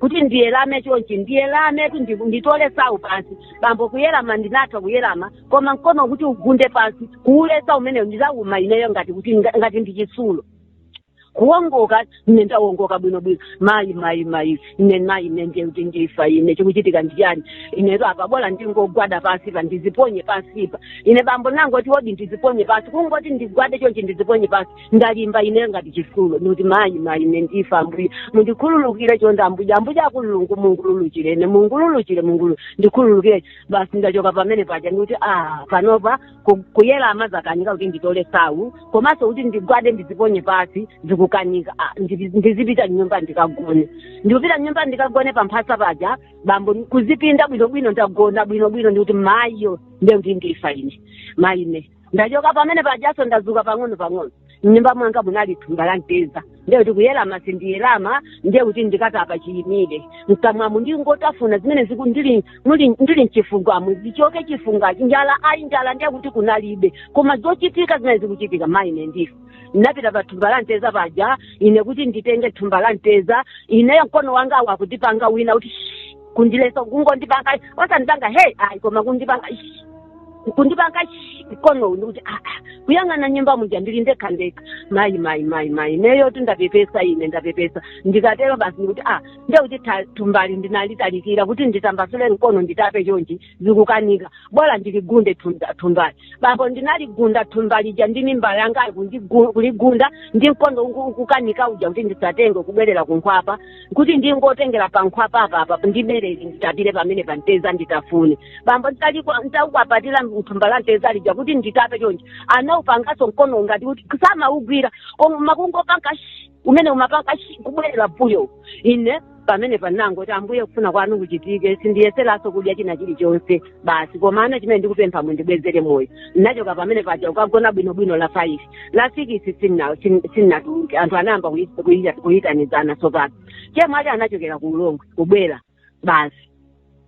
kuti ndiwerame chonchi ndiwerametu ndi- nditole sawu pansi bambo kuwerama ndinatha kuwerama koma mkono kuti ugunde pansi kuuleza umenewo ndidawuma ineyo ngati kuti nga- ngati ndi chitsulo kuongoka ine ndaongoka bwino bwino mayi mayi mayi ine mayi ine ndiye kuti ndifa ine chikuchitika ndichani inetu apa bola ndingogwada pansipa ndiziponye pansipa ine bambo nangoti odi ndiziponye pansi kungoti ndigwade chonchi ndiziponye pansi ndalimba ine ngati chisulo ndikuti mayi mayi ine ndifa ambuye mundikhululukire chonde ambuye ambuye akululungu mungululukire ine mungululukire Mulungu ndikhululukire basi ndachoka pamene paja ndikuti ah panopa ku- kuyerama zakanika kuti nditole sawu komanso kuti ndigwade ndiziponye pasi zikukanika Ah, ndizi- ndizipita mnyumba ndikagone ndikupita mnyumba ndikagone pamphasa paja bambo kuzipinda bwinobwino ndagona bwinobwino ndikuti mayiyo ndekuti ndifa ine mayi ine ndachoka pamene pajaso ndazuka pang'ono pang'ono mnyumba mwanga munali thumba la mteza ndiye kuti kuyelama sindiyelama ndiye kuti ndikatapa chiyimire mkamwamu ndingotafuna zimene ziku ndili muli- ndili mchifuwamu zichoke chifukwa cha njala ayi njala ndiye kuti kunalibe koma zochitika zimene zikuchitika mayi ine ndifa ndinapita pa thumba la mteza paja ine kuti nditenge thumba la mteza ineyo mkono wanga wakundipanga wina kuti "Shh, kundilesa kungondipanga osandipanga hey ayi koma kundipanga "Shh." kundipanga shi, mkono uwu ndikuti "Ah, ah, kuyang'ana nyumba muja ndili ndekha ndekha mayi mayi mayi mayi ineyotu ndapepesa ine ndapepesa ndikatero basi ndikuti ah ndekuti tha- thumbali ndinalitalikira kuti nditambasule mkono nditape chonchi zikukanika bora ndiligunde thumba- thumbali bambo ndinaligunda thumba lija ndi mimba yanga kundigu- kuligunda ndi mkono uku- ukukanika uja kuti ndisatenge kubwerera kunkhwapa kuti ndingotengera pa nkhwapa apa apa ndiberere nditapire pamene pa mteza nditafune bambo nditalikwa- nditakwapatira thumba la mteza lija kuti nditape chonje anaupanganso mkono ngati kuti samaugwira koma kungopanga shi umene umapanga shi kubwerera mbuyo ine pamenepa ndangoti ambuye kufuna kwanu kuchitike sindiyeseranso kudya china chilichonse basi komano chimene ndikupempha mundibwezere moyo ndinachoka pamene paja ukagona bwinobwino la five la sikisi sinnatuluke anthu anayamba kuyi- kuyi- kuyitanizana tsopano chemwali anachokera ku Ulongwe kubwera basi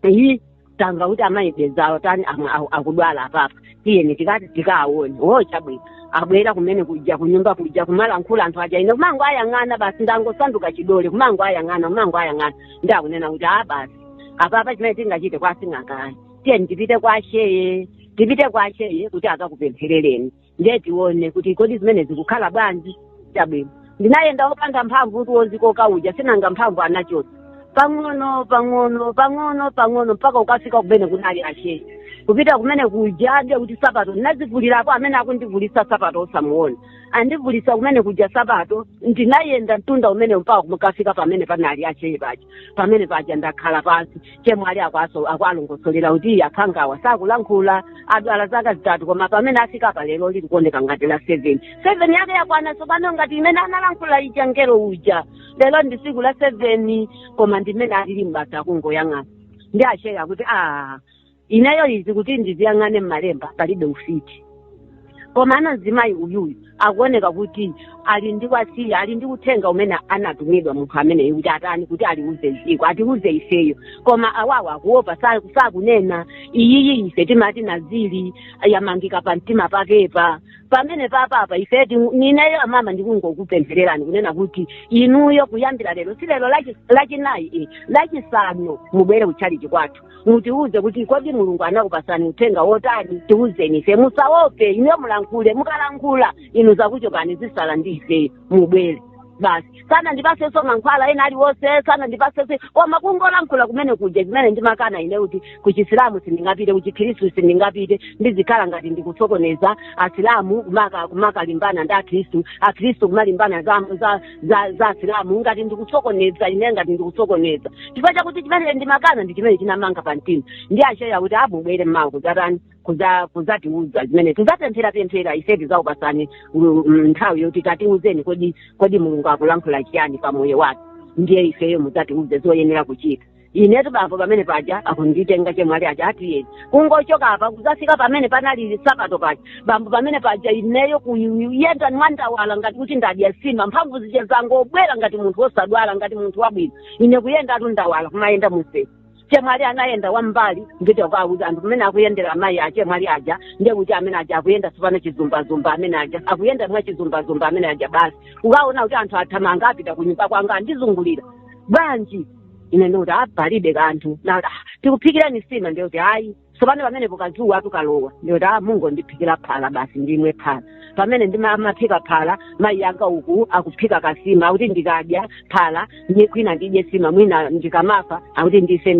eyi tamva kuti amayi bezawo tani amwe aku- akudwala apapa tiyeni tikati tikaawone wo chabwino abwera kumene kuja kunyumba kuja kumalankhula anthu aja ine kumangowayang'ana basi ndangosanduka chidole kumangowayang'ana kumangowayang'ana ndiye akunena kuti a basi apapa chimene tingachite kwa sing'anga ayi tiyeni tipite kwa sheye tipite kwa sheye kuti akakupempherereni ndiye tione kuti kodi zimene zikukhala bwanji chabwino ndinayenda wopanda mphamvu kuti wozikoka uja sinanga mphamvu anachotsa pang'ono pang'ono pang'ono pang'ono mpaka ukafika kumene kunali asheye kupita kumene kuja ndiye kuti sapato ndinazivulirapo amene akundivulisa sapato osamuona andivulisa kumene kuja sapato ndinayenda mtunda umene mpaka kukafika pamene panali asheye paja pamene paja ndakhala pansi chemwali akwaso akuwalongosolera kuti akhangawa sakulankhula adwala zaka zitatu koma pamene afika pa lero lili kuoneka ngati la seven seven yake yakwana tsopano ngati imene analankhula ija mngelo uja lero ndi tsiku la seven koma ndi mmene alili basi kungoyang'ana ndiye asheye akuti a ineyo izi kuti ndiziyang'ane mmalemba palibe ufiti koma mzimayi uyuyu akuoneka kuti ali ndi wasiya ali ndi uthenga umene anatumidwa munthu ameneyo kuti atani kuti aliuze dziko atiuze ifeyo koma awawa akuopa sa- sakunena iyiyi ise timati nazili yamangika pa mtima pakepa pamene papapa ife ti- ndineyo amama ndikungokupemphererani kunena kuti inuyo kuyambira lero si lero lachi- lachinayi eh, lachisanu mubwere kutchalichi kwathu mutiuze kuti kodi mulungu anakupasani uthenga wotani tiuzeni ife musaope inuyo mulankhule mukalankhula inu zakuchokani zisala ndi ife mubwere basi sanandipasenso mankhwala ena aliwonse sanandipasenso koma kungolankhula kumene kuja zimene ndimakana ine kuti kuchisilamu sindingapite kuchikhristu sindingapite ndizikhala ngati ndikusokoneza asilamu kumaka- kumakalimbana ndi akhristu akhristu kumalimbana za, za za za asilamu ngati ndikusokoneza ine ngati ndikusokoneza chifukwa chakuti chimene ndimakana ndi chimene chinamanga pa mtima ndiye acheya akuti mubwere mmawa kudzatani kuza kuzatiuza zimene tizapempherapemphera ife tizakupasani mm, mm, nthawi yoti tatiuzeni kodi kodi mulungu akulankhula chiyani pa moyo wathu ndiye ifeyo mudzatiuze zoyenera kuchita inetu bambo pamene paja akunditenga chemwali aja tiyeni kungochoka apa kuzafika pamene panali sabata paja bambo pamene paja ineyo kuyenda mwandawala ngati kuti ndadya sima mphamvu zija zangobwera ngati munthu wosadwala ngati munthu wabwino ine kuyenda tu ndawala kumayenda mumseu chemwali anayenda wambali kuchita kuwauza anthu pamene akuyendera amayi a chemwali aja ndiye kuti amene aja akuyenda tsopano chizumbazumba amene aja akuyenda mwa chizumbazumba amene aja basi ukaona kuti anthu athamanga apita kunyumba kwanga andizungulira bwanji ine ndikuti a palibe kanthu nati "Ah, tikuphikirani sima ndikuti ayi tsopano pamenepo kadzuwa tu kalowa ndikuti a mungondiphikira phala basi ndimwe phala pamene ndimamaphika phala mayi anga uku akuphika kasima akuti ndikadya phala ndi mwina ndidye sima mwina ndikamafa akuti ndife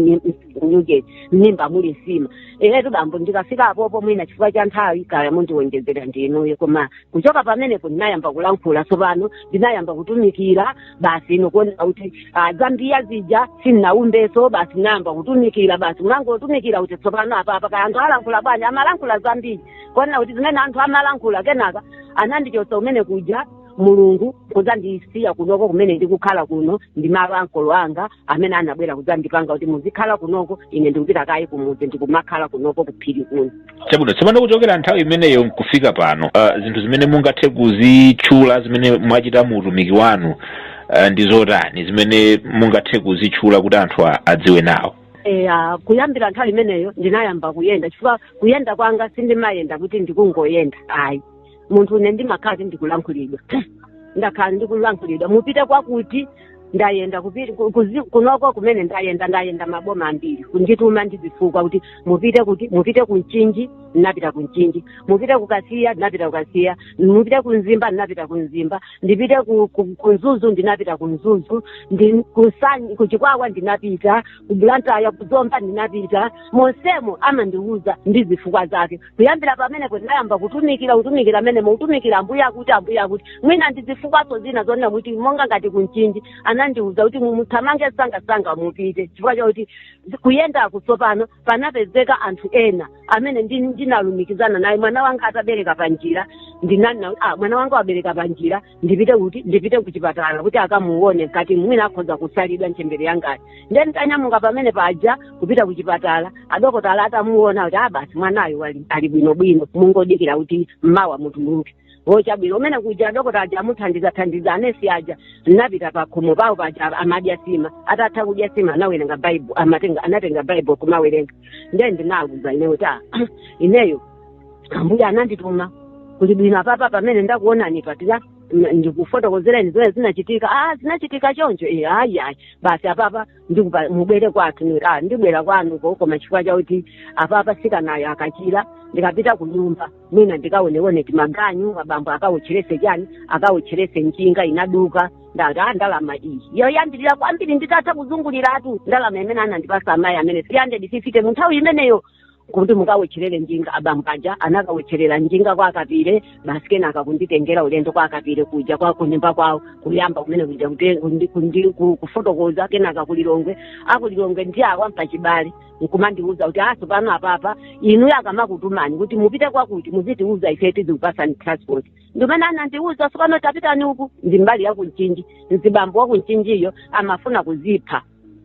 mnyuke m'mimba muli sima inetu bambo ndikafika apopo mwina chifukwa cha nthawi kaya mundiwonjezera ndinuyo koma kuchoka pamenepo ndinayamba kulankhula tsopano ndinayamba kutumikira basi nkuona kuti ah, za mbiya zija sinnaumbeso basi nayamba kutumikira basi ndinangotumikira kuti tsopano apapa kaya anthu alankhula bwanji amalankhula zambiri kuona kuti zimene anthu amalankhula kenaka anandichotsa kumene kuja mulungu kudzandisiya kunoko kumene ndikukhala kuno ndi malo a ankolo anga amene anabwera kudzandipanga kuti muzikhala kunoko ine ndikupita kayi kumudzi ndikumakhala kunoko kuphiri kuno chabwino tsopano kuchokera nthawi imeneyo nkufika pano uh, zinthu zimene mungathe kuzitchula zimene mwachita mu utumiki wanu uh, ndi zotani zimene mungathe kuzitchula kuti anthu a- adziwe nawo eya kuyambira nthawi imeneyo ndinayamba kuyenda chifukwa kuyenda kwanga sindimayenda kuti ndikungoyenda ayi munthu une ndimakhala kuti ndikulankhulidwa ndakhala ndikulankhulidwa mupite kwakuti ndayenda kupi- ku- kuzi- kunoko kumene ndayenda ndayenda maboma ambiri kundituma ndi zifukwa kuti mupite kuti mupite ku mchinji ndinapita ku mchinji mupite ku kasiya ndinapita ku kasiya mupite ku mzimba ndinapita ku mzimba ndipite ku, ku, ku mzuzu ndinapita ku mzuzu ndi ku Nsanyi- ku chikwawa ndinapita ku bulantaya ku zomba ndinapita monsemo amandiwuza ndi zifukwa zake kuyambira pamenepo ndinayamba kutumikira kutumikira amenemo kutumikira ambuye akuti ambuye akuti mwina ndi zifukwaso zina zonena kuti monga ngati kunchinji anandiwuza kuti muthamange sangasanga mupite chifukwa chakuti kuyendaku tsopano panapezeka anthu ena amene ndi- ndinalumikizana naye mwana wanga atabereka panjira ndinanena kuti ah mwana wanga wabereka panjira ndipite kuti ndipite kuchipatala kuti akamuone mkati mwina akhoza kusalidwa ntchembere yangayo ndiye nditanyamuka pamene paja kupita kuchipatala adokotala atamuona kuti abasi mwanayo wali- ali bwinobwino mungodikira kuti mmawa mutuluke chabwino umene kuja adokotala aja amuthandizathandiza anesi aja napita pakhomo pawo paja amadya sima atatha kudya sima anawerenga baibu amatenga anatenga baibu kumawerenga ndiye ndinawuza ineyo kuti "Ah, ineyo ambuye anandituma kuli bwino apapa pamene ndakuonani patirani ndikufotokozereni zimene zinachitika ah zinachitika choncho e ayi ayi basi apapa ndikupa mubwere kwathu Ni- ah ndibwera kwanuko koma chifukwa chakuti apapa sikanayo akachira ndikapita ku nyumba mwina ndikaonewone timaganyu abambo akawotcherese chani akawotcherese njinga inaduka ndati ah ndalama iyi yoyambirira kwambiri nditatha kuzunguliratu ndalama imene anandipasa amayi amene 350 mu nthawi imeneyo kuti mukawetcherere njinga abambaja anakawetcherera njinga kwa akapire basi kenaka kunditengera ulendo kwa akapire kuja kwa kunyumba kwawo kuyamba kumene kuja kute- kundi- kundi- ku- kufotokoza kenaka kulilongwe akulilongwe ndi awa apachibale nkumandiuza kuti sopano apapa inu akamakutumani kuti mupite kwakuti muzitiuza ife tizikupasani transport ndimene anandiuza sopano tapitani uku ndi mbali yakunchinji mzibambo wakunchinjiyo amafuna kuzipha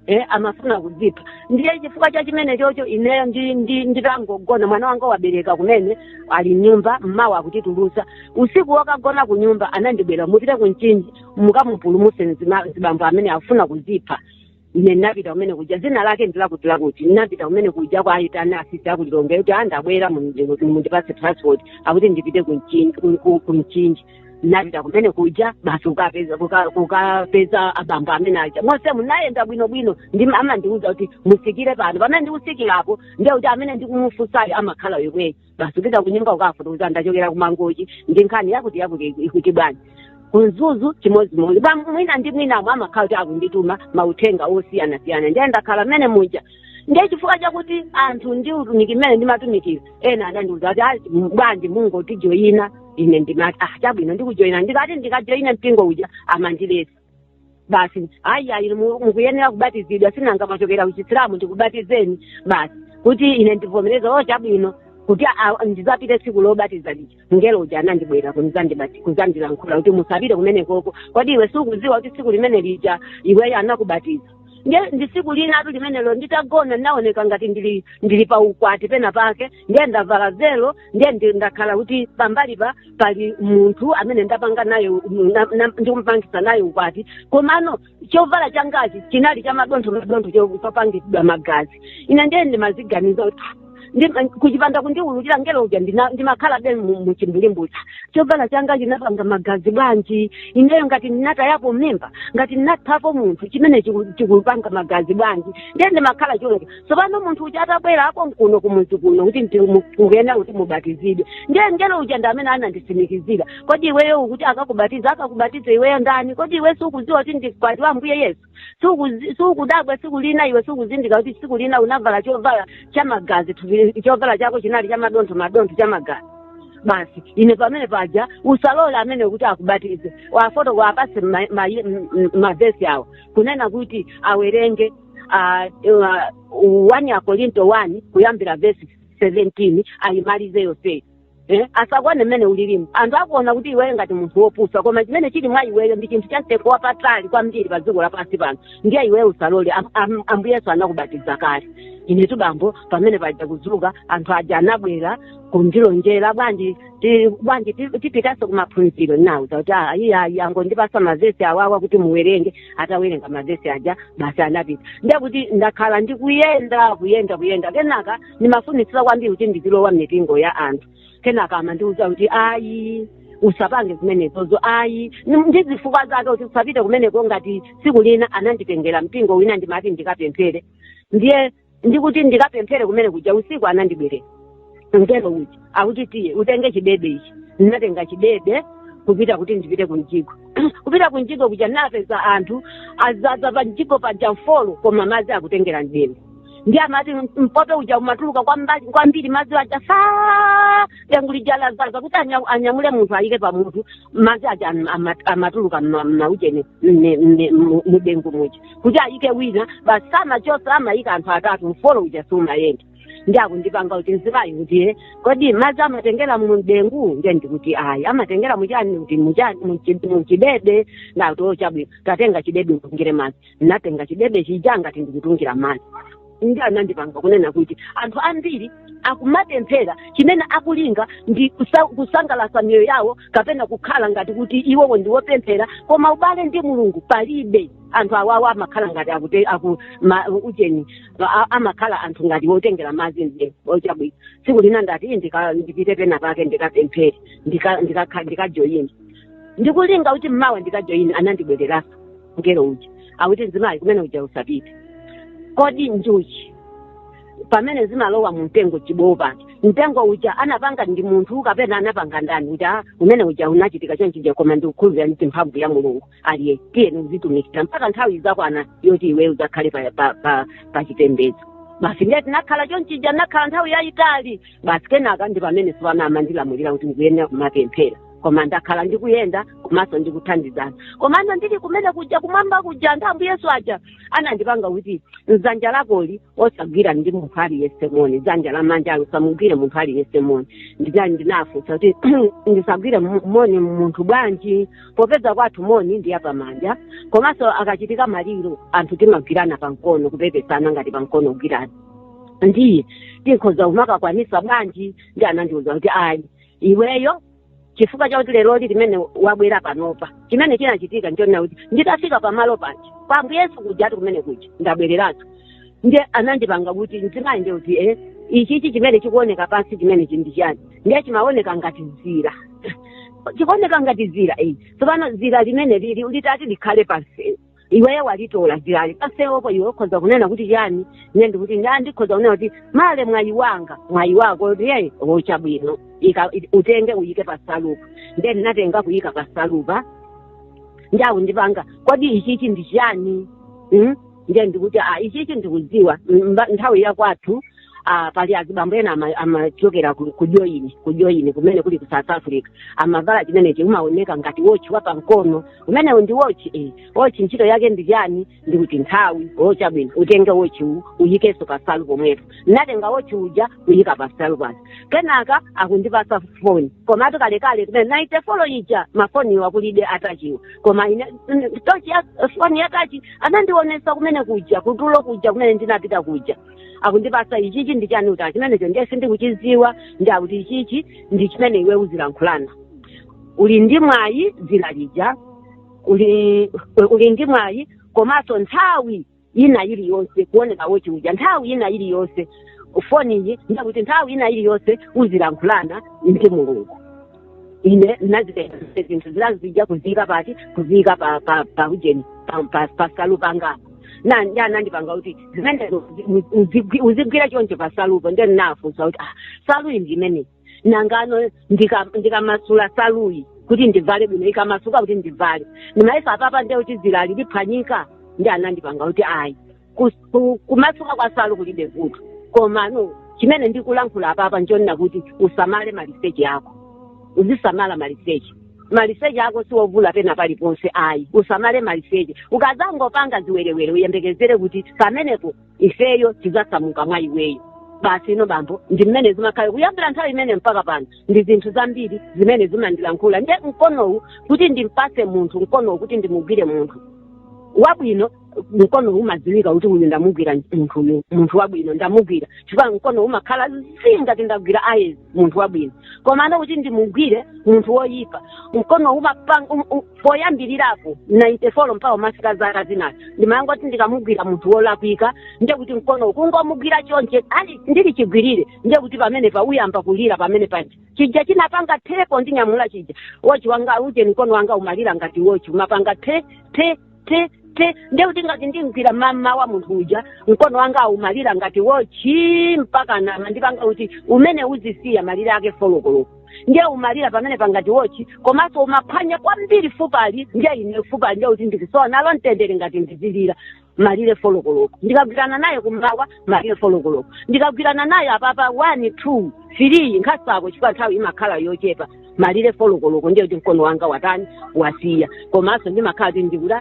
eh, amafuna kudzipha ndiye chifukwa cha chimene chocho ineyo ndi- ndi- nditangogona mwana wanga wabereka kumene ali mnyumba mmawa akutitulusa usiku wokagona ku nyumba anandibwera mupite ku mchinji mukamupulumuse mzima- mzibambo amene afuna kuzipha ine ndinapita kumene kuja dzina lake ndilakuti lakuti ndinapita kumene kuja kwa ayitana asisi akulilongwe kuti andabwera mundipase transport akuti ndipite ku mchinji ku- ku- ku mchinji napita kumene kuja basi kukapeza kuka- kukapeza abambo amene aja mosemu nayenda bwino bwino ndi amandiuza kuti musikire pano pamene ndikusikirapo ndiye kuti amene ndikumufusayo amakhala yomweyo basi kupita kunyumba kukafotokoza ndachokera kumangochi ndi nkhani yakutiyakuti ikuti bwanji kunzuzu chimodzimodzi bambo mwina ndi mwinamo amakhala kuti akundituma mauthenga osiyanasiyana ndiye ndakhala mmene muja ndiye chifukwa chakuti anthu ndi utumiki mmene ndimatumikira ena adandiuza kuti "Ayi, m- bwanji mungotijoyina ine ndimati ah chabwino ndikujoyina ndikati ndikajoyina mpingo uja amandiletsa basi ayi ayi mu- mukuyenera kubatizidwa sinanga mwachokera kuchisilamu ndikubatizeni basi kuti ine ndivomereza o chabwino kuti a- a- ndizapite tsiku lobatiza lija mngelo uja anandibwera kunzandibati- kuzandilankhula kuti musapite kumenekoko kodi iwe sukuziwa kuti tsiku limene lija iweyo anakubatiza ndiye ndi tsiku linatu limenelo nditagona ndinaoneka ngati ndili ndili pa ukwati pena pake ndiye ndavala velo ndiye ndi- ndakhala kuti pambali pa pali munthu amene ndapanga naye u- na- na- ndikumpangisa naye ukwati komano chovala changachi chinali cha madontho madontho chopangidwa magazi ine ndiye ndimaziganiza kuti "Ah, ndi- kuchipanda kundiululira ngelo uja ndina- ndimakhala be mu- muchimbulimbutsa chovala changa chinapanga magazi bwanji ineyo ngati ndinatayapo mimba ngati ndinaphapo munthu chimene chiku- chikupanga magazi bwanji ndiye ndimakhala choncho tsopano munthu uja atabwera apo mkuno kumuzi kuno kuti ndi- mu- mukuyenera kuti mubatizidwe ndiye mngelo uja ndi amene ananditsimikizira kodi iweyo ukuti akakubatize akakubatize iweyo ndani kodi iwe sukudziwa kuti ndiwe mkwati wa ambuye yesu Sukuzi- sukudabwa tsiku lina iwe sukuzindikira kuti tsiku lina unavala chovala cha magazi thupi- chovala chako chinali cha madontho madontho cha magazi basi ine pamene paja usalole amene kuti akubatize uwafotokozere uwapase mavesi awo kunena kuti awerenge ah, ah, 1 akorinto 1 kuyambira vesi 17 ayimalize yonseyo Eh, asakuone mmene ulilimu anthu akuona kuti iweyo ngati munthu wopusa koma chimene chili mwa iweyo ndi chinthu chamtengo wapatali kwambiri pa dziko lapansi pano ndiye iweyo usalole Am- am- ambuye yesu anakubatiza kale inetu bambo pamene paja kudzuka anthu aja anabwera kundilonjera bwanji ti- bwanji ti- tipitanso kumaphunziro nauza kuti "Ah, iye ayi angondipasa mavesi awawa kuti muwerenge atawerenga mavesi aja basi anapita ndekuti ndakhala ndikuyenda kuyenda kuyenda kenaka ndimafunitsitsa kwambiri kuti ndizilowa m'mipingo ya anthu kenaka amandiuza kuti ayi usapange zimenezozo ayi Ni- ndi zifukwa zake kuti usapite kumeneko ngati tsiku lina ananditengera mpingo wina ndimati ndikapemphere ndiye ndikuti ndikapemphere kumene kuja usiku anandibwerera mngelo uja akuti tiye utenge chidebe ichi ndinatenga chidebe kupita kuti ndipite ku mjigo kupita ku mjigo kuja ndinapeza anthu azaza pa mjigo paja mfolo koma madzi akutengera mdengu ndiye amati mpope uja umatuluka kwamba- kwambiri madzi aja fa dengu lija lazaza kuti anya- anyamule munthu ayike pamutu madzi aja am- ama- amatuluka mma- mmaujeni mne- mne- mu- mudengu muja kuti ayike wina basi samachosa amayika anthu atatu mfolo uja siumayenda ndiye akundipanga kuti mzimayi kuti eh, kodi madzi amatengera mumdengu ndiye ndikuti ayi amatengera muchani kuti muchani muchi- muchidebe nati o chabwino tatenga chidebe utungire madzi ndinatenga chidebe chija ngati ndikutungira madzi ndiye anandipanga kunena kuti anthu ambiri akumapemphera chimene akulinga ndi kusa- kusangalatsa miyoyo yawo kapena kukhala ngati kuti iwowo ndi wopemphera koma ubale ndi mulungu palibe anthu awawo amakhala ngati akute aku ma, ucheni a- amakhala anthu ngati wotengera madzi nde ochabwino tsiku lina ndati "Ii, ndika- ndipite pena pake ndikapemphere ndikajoyini ndika, ndika ndikulinga kuti mmawa ndikajoyini anandibwereranso mngelo uja akuti mzimayi kumene uja usapite kodi njuchi pamene zimalowa mu mtengo chibowo pake mtengo uja anapanga ndi munthu kapena anapanga ndani ndikuti ah, umene uja unachitika chonchija koma ndikukhulupirira ndi mphamvu ya mulungu aliye tiye uzitumikira mpaka nthawi izakwana yoti iwe uzakhale pa, pa, pa, pa chipembedzo basi ndiye tinakhala chonchija nakhala nthawi yayitali basi kenaka ndi pamene tsopano amandilamulira kuti ndikuyenera kumapemphera koma ndakhala ndikuyenda komanso ndikuthandizana komano ndili kumene kuja kumwamba kuja anthu ambuye yesu aja anandipanga kuti dzanja lakoli usagwirane ndi munthu aliyense moni dzanja la manjalo usamugwire munthu aliyense moni ndinali ndinafunsa kuti ndisagwire mu- moni munthu bwanji popeza kwathu moni ndi wapamanja komanso akachitika maliro anthu timagwirana pamkono kupepesana ngati pamkono kugwirana ndiye tikhoza kumakakwanisa bwanji ndiye anandiuza kuti ayi iweyo chifukwa chakuti leroli limene wabwera panopa chimene chinachitika ndichonena kuti nditafika pamalo paja kwa ambuye yesu kujatu kumene kuja ndabwereranso ndiye anandipanga kuti mzimayi ndiye kuti e ichichi chimene chikuoneka pansi chimenechi ndi chani ndiye chimaoneka ngati zira chikuoneka ngati zira eyi tsopano zira limeneli litati likhale pansi iweyo walitola dzirali pamsewupo iwe ukhoza kunena kuti chani ine ndikuti nda ndikhoza kunena kuti male mwayi wanga mwayi wako kuti eee wochabwino Ika- i- utenge uyike pansalupa nde ndinatenga kuyika pansalupa nde akundipanga kodi ichichi ndi chani Mm? nde ndikuti a ichichi ndikudziwa Mm, mba- nthawi yakwathu ah, pali azibambo ena ama- amachokera ku ku joni ku joni kumene kuli ku south africa amavala chimenechi umaoneka ngati wochi wa pamkono umenewu ndi wochi eh. wochi ntchito yake ndi chani ndikuti nthawi ochabwino utenge wochi uwu uyikenso pansalu pomwepo natenga wochi uja kuyika pansalupo kenaka akundipasa foni komatu kalekale kumene naite folo ija mafoniwa kulibe atachiwa koma ine mm, tochi ya foni yatachi anandionesa kumene kuja kutulo kuja kumene ndinapita kuja akundipasa ichichi ndi chani ndikuti a chimenecho ndiye sindikuchiziwa nde akuti ichichi ndi chimene iwe uzilankhulana uli ndi mwayi dzira lija uli uli ndi mwayi komanso nthawi ina iliyonse kuoneka wochi uja nthawi ina iliyonse foniyi ndiye kuti nthawi ina iliyonse uzilankhulana ndi mulungu ine ndinazitenga zonse zinthu zinazija kuziyika pati kuziyika pa pa pa ujeni pa- pa- pa salu pangapo ndiye anandipanga kuti zimenezo uzi- uzigwi- uzigwira choncho pa salupo ndiye ndinafunsa kuti ah saluyi ndi imene nanga ndika- ndikamasula saluyi kuti ndivale bwino ikamasuka kuti ndivale ndimayesa apapa ndiye kuti zilali liphwanyika ndiye anandipanga kuti ayi Kus- ku- kumasuka kwa salu kulibe vuto komano chimene ndikulankhula apapa nchonena kuti usamale maliseche ako uzisamala maliseche maliseche ako siwovula pena paliponse ayi usamale maliseche ukazangopanga ziwerewere uyembekezere kuti pamenepo ifeyo tizasamuka mwa iweyo basi inu bambo ndi mmene zimakhala kuyambira nthawi imene mpaka pano ndi zinthu zambiri zimene zimandilankhula nde mkonowu kuti ndimpase munthu mkonowu kuti ndimugwire munthu wabwino mkono umadziwika kuti uyu ndamugwira munthu uyu munthu wabwino ndamugwira chifukwa mkono umakhala zii ngati ndagwira ayezi munthu wabwino komano kuti ndimugwire munthu woyipa mkono umapanga um, um, poyambirirapo 94 mpaka umafika zaka zinazo ndimapanga kuti ndikamugwira munthu wolakwika ndiye kuti mkono ukungomugwira chonchi ali ndili chigwirire ndiye kuti pamenepo uyamba kulira pamene paja chija chinapanga thepo ndinyamula chija wochi wanga uje mkono wanga umalira ngati wochi umapanga the the te te ndiye kuti ngati ndimgwira mmamawa munthu uja mkono wanga umalira ngati wochi mpaka anamandipanga kuti umene uzisiya malire ake folokoloko ndiye umalira pamenepa ngati wochi komanso umaphwanya kwambiri fupali ndiye ine fupali ndiye kuti ndikusowa nalo mtendere ngati ndizilira malire folokoloko ndikagwirana naye kummawa malire folokoloko ndikagwirana naye apapa one two three nkhasako chifukwa nthawi imakhala yochepa malire folokoloko ndiye kuti mkono wanga watani wasiya komanso ndimakhala kuti ndikuti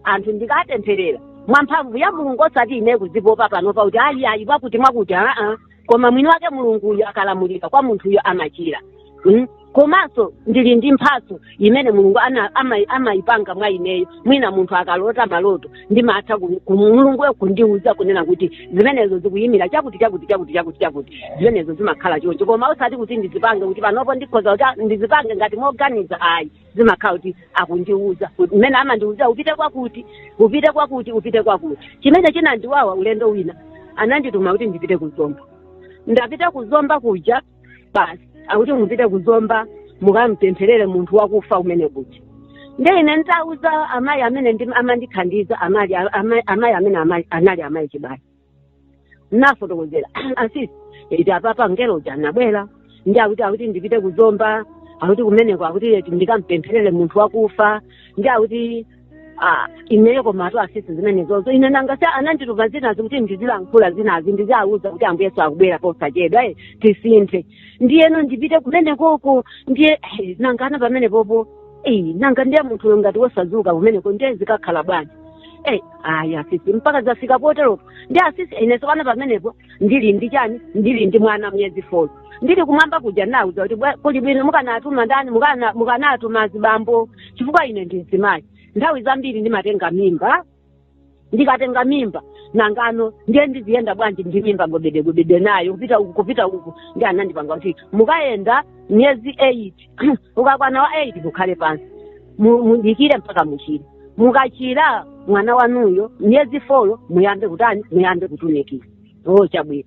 anthu ndikapempherera mwa mphamvu ya mulungu osati ine kuzipopa panopa kuti ayi ayi mwakuti mwakuti aa koma mwini wake mulunguyo akalamulira kwa munthuyo amachira mm? komanso ndili ndi mphatso imene mulungu ana- ama- amayipanga mwa ineyo mwina munthu akalota maloto ndimatha ku- ku- mulunguyo kundiuza kunena kuti zimenezo zikuyimira chakuti chakuti chakuti chakuti chakuti zimenezo zimakhala choncho koma osati kuti ndizipange kuti panopo ndikhoza kuti ah, ndizipange ngati moganiza ayi zimakhala kuti akundiuza mmene amandiuza upite kwakuti upite kwakuti upite kwakuti chimene chinandiwawa ulendo wina anandituma kuti ndipite ku zomba ndapita ku zomba kuja basi akuti mupite kuzomba mukamupempherere munthu wakufa kumene kuja nde ine nditauza amayi amene ndi- amandithandiza amali- ama- amayi amene amali- anali amayi chibali nafotokozera asisi eti apapa mngelo uja anabwera ndiye akuti akuti ndipite kuzomba akuti kumeneko akuti eti ndikampempherere munthu wakufa ndiye akuti Ah, ineyo komatu asisi zimenezozo ine nanga si anandituma zina izi kuti ndizilankhula zina izi ndiziauza kuti ambuye yesu akubwera posachedwa eh, tisinthe ndiyeno ndipite kumene koko ndiye eh, nanga ana pamene popo eh, nanga ndiye munthuyo ngati wosazuka kumeneko ndiye zikakhala bwanji eh, ayi asisi mpaka zafika poteropo ndiye asisi ine sopano pamenepo ndili ndi chani ndili ndi mwana miyezi four ndili kumwamba kuja nauza kuti bwa- kuli bwino mukanatuma ndani mukana- mukanatuma zibambo chifukwa ine ndi mzimayi nthawi zambiri ndimatenga mimba ndikatenga mimba nangano ndiye ndiziyenda bwanji ndi mimba gobedegobede nayo kupita uku kupita uku ndi anandipanga kuti mukayenda miyezi eight ukakwana wa 8 mukhale pansi mu- mudikire mpaka muchire mukachira mwana wanuyo miyezi folo muyambe kutani muyambe kutumikira o chabwino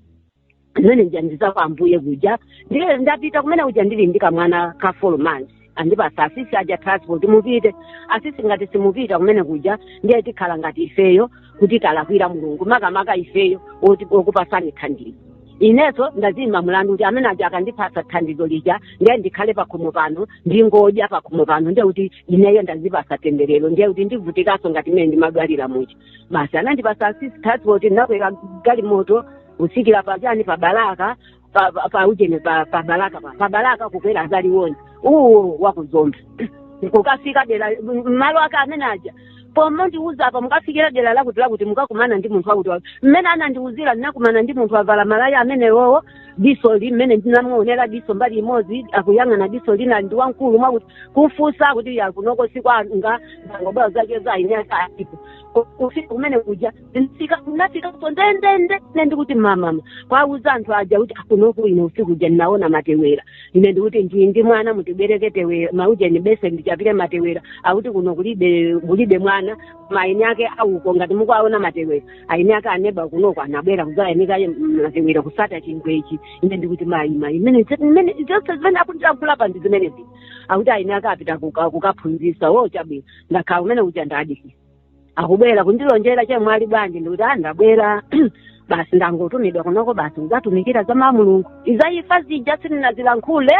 zimene anandiuza kwa ambuye kuja ndiye ndapita kumene kuja ndili ndi kamwana ka folo months andipasa asisi aja transport mupite asisi ngati simupita kumene kuja ndiye tikhala ngati ifeyo kuti talakwira mulungu makamaka ifeyo oti- okupasani thandizo inenso ndaziimba mlandu kuti amene aja akandipasa thandizo lija ndiye ndikhale pakhomo pano ndingodya pakhomo pano ndiye kuti ineyo ndazipasa temberero ndiye kuti ndivutikanso ngati mmene ndimadwalira muja basi anandipasa asisi transport ndinakwera galimoto kusikira pachani pa balaka pa- pa- pa ujeni pa pa balaka pa pa balaka kukwera za Liwonde uwu wakuzomba kukafika dera m- malo ake amene aja pomwe andiuza apa mukafikira dera lakuti lakuti mukakumana ndi munthu wakuti wakuti mmene anandiuzira ndinakumana ndi munthu avala malaya amenewowo diso ili mmene ndinamuonera diso mbali imodzi akuyang'ana diso lina ndi wamkulu mwakuti kumfunsa kuti yakunoko si kwanga ndangobwera zake zayinyasa alipo Ku- kufika kumene kuja ndinafika ndinafikanso ndendende ne ndikuti mamama kuwauza anthu aja kuti akunoku ine usiku uja ndinaona matewera ine ndikuti ndili ndi mwana mutibwereke tewera maujeni beseni ndichapire matewera akuti kuno kulibe kulibe mwana koma aini ake auko ngati mukuaona matewera aini ake aneba kunoko anabwera kuzayanika matewera kusata chingwechi ine ndikuti mayi mayi imene imene zonse zimene akundilankhula apa ndi zimenezi akuti aini ake apita kuka- kukaphunzisa wo chabwino ndakhala kumene kuja ndadikira akubwera kundilonjera chemwali bwanji ndikuti a ndabwera basi ndangotumidwa kunoko basi ndidzatumikira za mawu a mulungu izi za imfa zija sindinazilankhule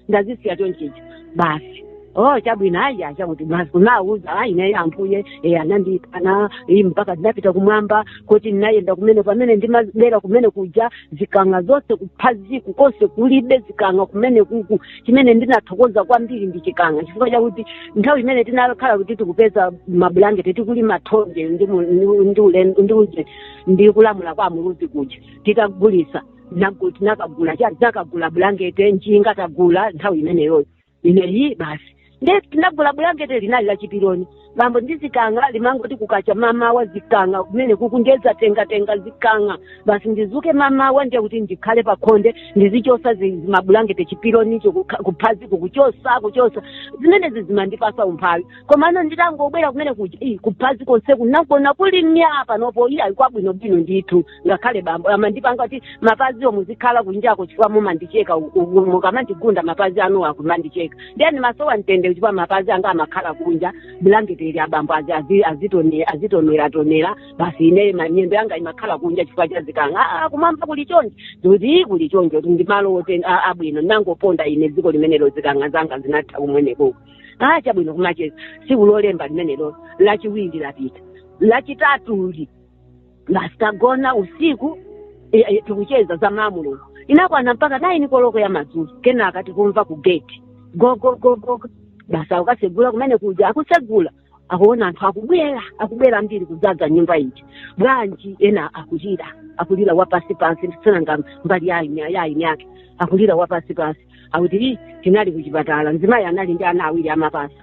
ndazisiya chonchicho basi oh chabwino ayi achakuti basi kunawuza ayi naye ambuye e anandipanga iyi mpaka ndinapita kumwamba kuti ndinayenda kumene pamene ndimabwera kumene kuja zikang'a zonse kuphaziko konse kulibe zikang'a kumene kuku chimene ndinathokoza kwambiri ndi chikang'a chifukwa chakuti nthawi imene tinakhala kuti tikupeza mabulangeti tikulima thonje ndi mu- ndi- ndi ulendo- ndi uje ndi kulamula kwa amuluzi kuja titagulisa nagu- tinakagula cha- tinakagula bulangeti njinga tagula nthawi imeneyoyo ineyo basi ndiye tinagula bulangete linali la chipironi bambo ndiye zikanga limangoti kukacha mamawa zikanga kumene kukungo zatengatenga zikanga basi ndizuke mamawa ndiye kuti ndikhale pakhonde ndizichosa zi- zimabulangete chipironicho kukha- kuphazi kukuchosa kuchosa zimenezi zimandipasa umphawi komano nditangobwera kumene kuja "Ih, kuphazi konse kunangokhala kuli mya panopo iye ali kwabwinobwino ndithu ngakhale bambo amandipanga kuti mapaziwo muzikhala kunjako chifukwa mumandicheka u- u- mukamandigunda mapazi anuwo akumandicheka ndiye ndimasowa mtendere chifukwa mapazi anga amakhala kunja bulangeti ili abambo azi- azi- azitone- azitoneratonera basi ine ma- miyendo yanga imakhala kunja chifukwa cha zikanga "Ah, ah, kumwamba kuli chonje ndikuti kuli chonje kuti ndi malo oti- a- abwino ndinangoponda ine dziko limenelo zikanga zanga zinatha kumenekoko ah chabwino kumacheza tsiku lolemba limenelo lachiwiri lapita lachitatu li basi tagona usiku e, e, tikucheza za mwamulungu inakwana mpaka naini koloko ya madzulo kenaka tikumva ku gate gogogogo basi akasegula kumene kuja akusegula akuona anthu akubwera akubwera ambiri kudzaza nyumba ija bwanji ena akulira akulira wapasi pasi sinanga m'bale waini waini wake akulira wapasi pasi akuti "Ii, tinali kuchipatala mzimayi anali ndi ana awiri amapasa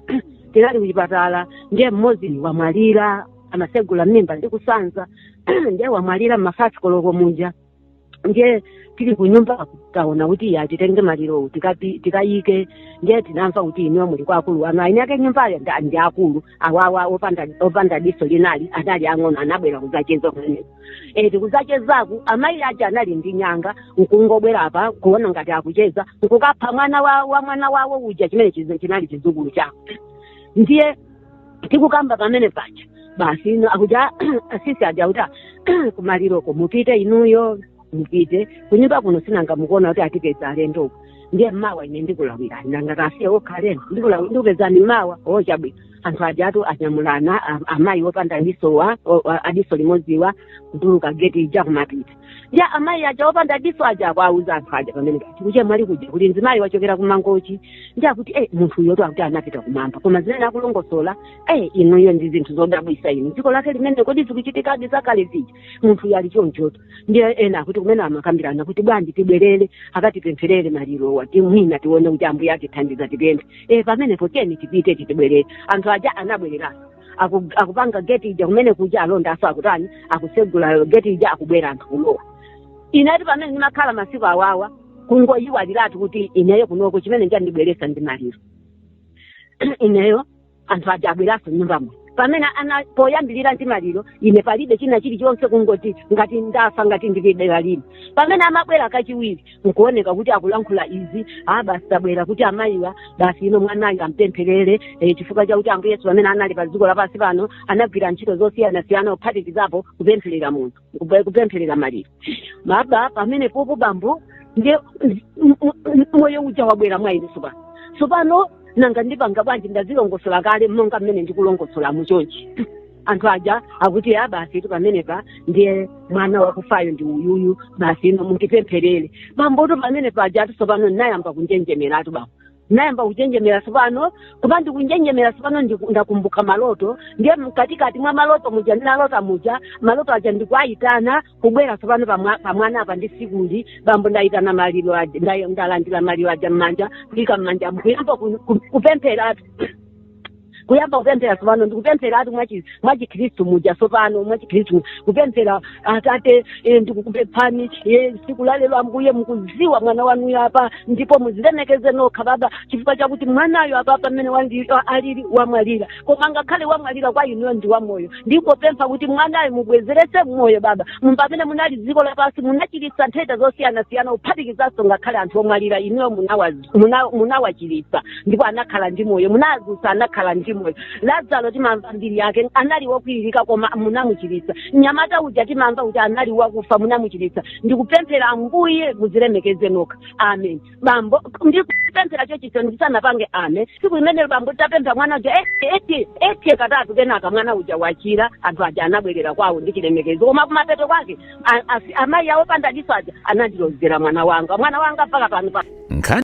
tinali kuchipatala ndiye mmodzi wamwalira amasegula mimba ndi kusanza ndiye wamwalira m'mafayifi koloko muja ndiye tili kunyumba taona kuti titenge malirowo tikapi- tikayike ndiye tinamva kuti inuyo muli kwa akulu anu aini ake nyumbayo ndi- ndi akulu awa awa opanda opanda diso linali anali ang'ono anabwera kuzacheza kumeneko e tikuzachezaku amayi aja anali ndi nyanga nkungobwera apa kuona ngati akucheza nkukapha mwana wa, wa mwana wawo uja chimene chizi- chinali chizukulu chawo ndiye tikukamba pamene paja basi akuja asisi aja kuti "Ah, kumaliroko mupite inuyo mupite kunyumba kuno sinanga mukuona kuti atipeza alendo kuno ndiye mawa ine ndikulawira sinangakasiye okha alendo ndikulawi- ndikupezani mawa o chabwino anthu ajatu anyamulana a- amayi opanda disowa o- a- adiso limodziwa kutuluka geti ija kumapita ndiye amayi aja opanda diso aja akuwauza anthu aja pamene kwa achemwali kuja kuti mzimayi wachokera kumangochi ndiye akuti eh munthu uyotu akuti anapita kumwamba koma zimene akulongosola eh inuyo ndi zinthu zodabwisa inu dziko lake limene kodi zikuchitikadi zakale zija munthu uyo ali chonchotu ndiye ena akuti kumene amakambirana kuti bwanji tibwerere akatipempherere malirowa kuti mwina tione kuti ambuye atithandiza tipemphe eh pamenepo tiyeni tipite titibwerere anthu aja anabwereranso aku, akupanga geti ija kumene kuja alonda aja so akutani akusegula geti ija akubwera anthu kulowa inetu pamene ndimakhala masiku awawa kungoyiwaliratu kuti ineyo kunoko chimene chandibweresa ndi maliro ineyo anthu aja abweraso nyumbamo pamene ana poyambirira ndi maliro ine palibe china chilichonse kungoti ngati ndafa ngati ndilibe dera lino pamene amabwera kachiwiri nkuoneka kuti akulankhula izi a basi tabwera kuti amayiwa basi ino mwanayu ampempherere eh chifukwa chakuti ambuye yesu pamene anali pa dziko lapansi pano anagwira ntchito zosiyanasiyana kuphatikizapo kupempherera munthu kupe- kupempherera maliro baba pamene popo bambo ndiye m- m- m- moyo uja wabwera mwa ine tsopano tsopano nanga ndipanga bwanji ndazilongosola kale monga mmene ndikulongosola muchonchi anthu aja akuti ya basi tu pamenepa ndiye mwana wakufayo ndi uyuyu basi ino mundipempherere bambotu pamene pajatu tsopano ndinayamba kunjenjemeratu bambo ndinayamba kunjenjemera tsopano koma ndikunjenjemera tsopano ndiku- ndakumbuka maloto ndiye mkatikati mwa maloto muja ndinalota muja maloto aja ndikuayitana kubwera tsopano pamwa- pamwana apa ndisikuli bambo ndayitana maliro aja nda- ndalandira maliro aja m'manja kuyika m'manja mkuyamba kupempheratu kuyamba kupemphera tsopano ndikupempheratu mwachi- mwachikhristu muja tsopano mwachikhristu kupemphera atate eh, ndikukupemphani eh, tsiku la lero ambuye mukuziwa mwana wanuyo apa ndipo muzilemekeze nokha baba chifukwa chakuti mwanayo apa pamene wandi- a- alili wamwalira koma ngakhale wamwalira kwa inuyo ndi wamoyo ndikupempha kuti mwanayo mubwezeretse moyo baba Mu- pamene munali dziko lapansi munachiritsa nthenda zosiyanasiyana kuphatikizanso ngakhale anthu omwalira inuyo munawa- muna- munawachiritsa ndipo anakhala ndi moyo munazutsa anakhala ndi moyo lazaro timamva mbiri yake anali wokwiririka koma munamuchiritsa mnyamata uja timamva kuti anali wakufa munamuchiritsa ndikupemphera ambuye muzilemekeze nokha amen bambo ndikupemphera choncho ndisanapange amen tsiku limenelo bambo nditapemphera mwana uja eti eti eti katatu kenaka mwana uja wachira anthu aja anabwerera kwawo ndi chilemekezo koma kumapeto kwake a- asi- amayi awo pandadiso aja anandilozera mwana wanga mwana wanga mpaka pano pa nkhani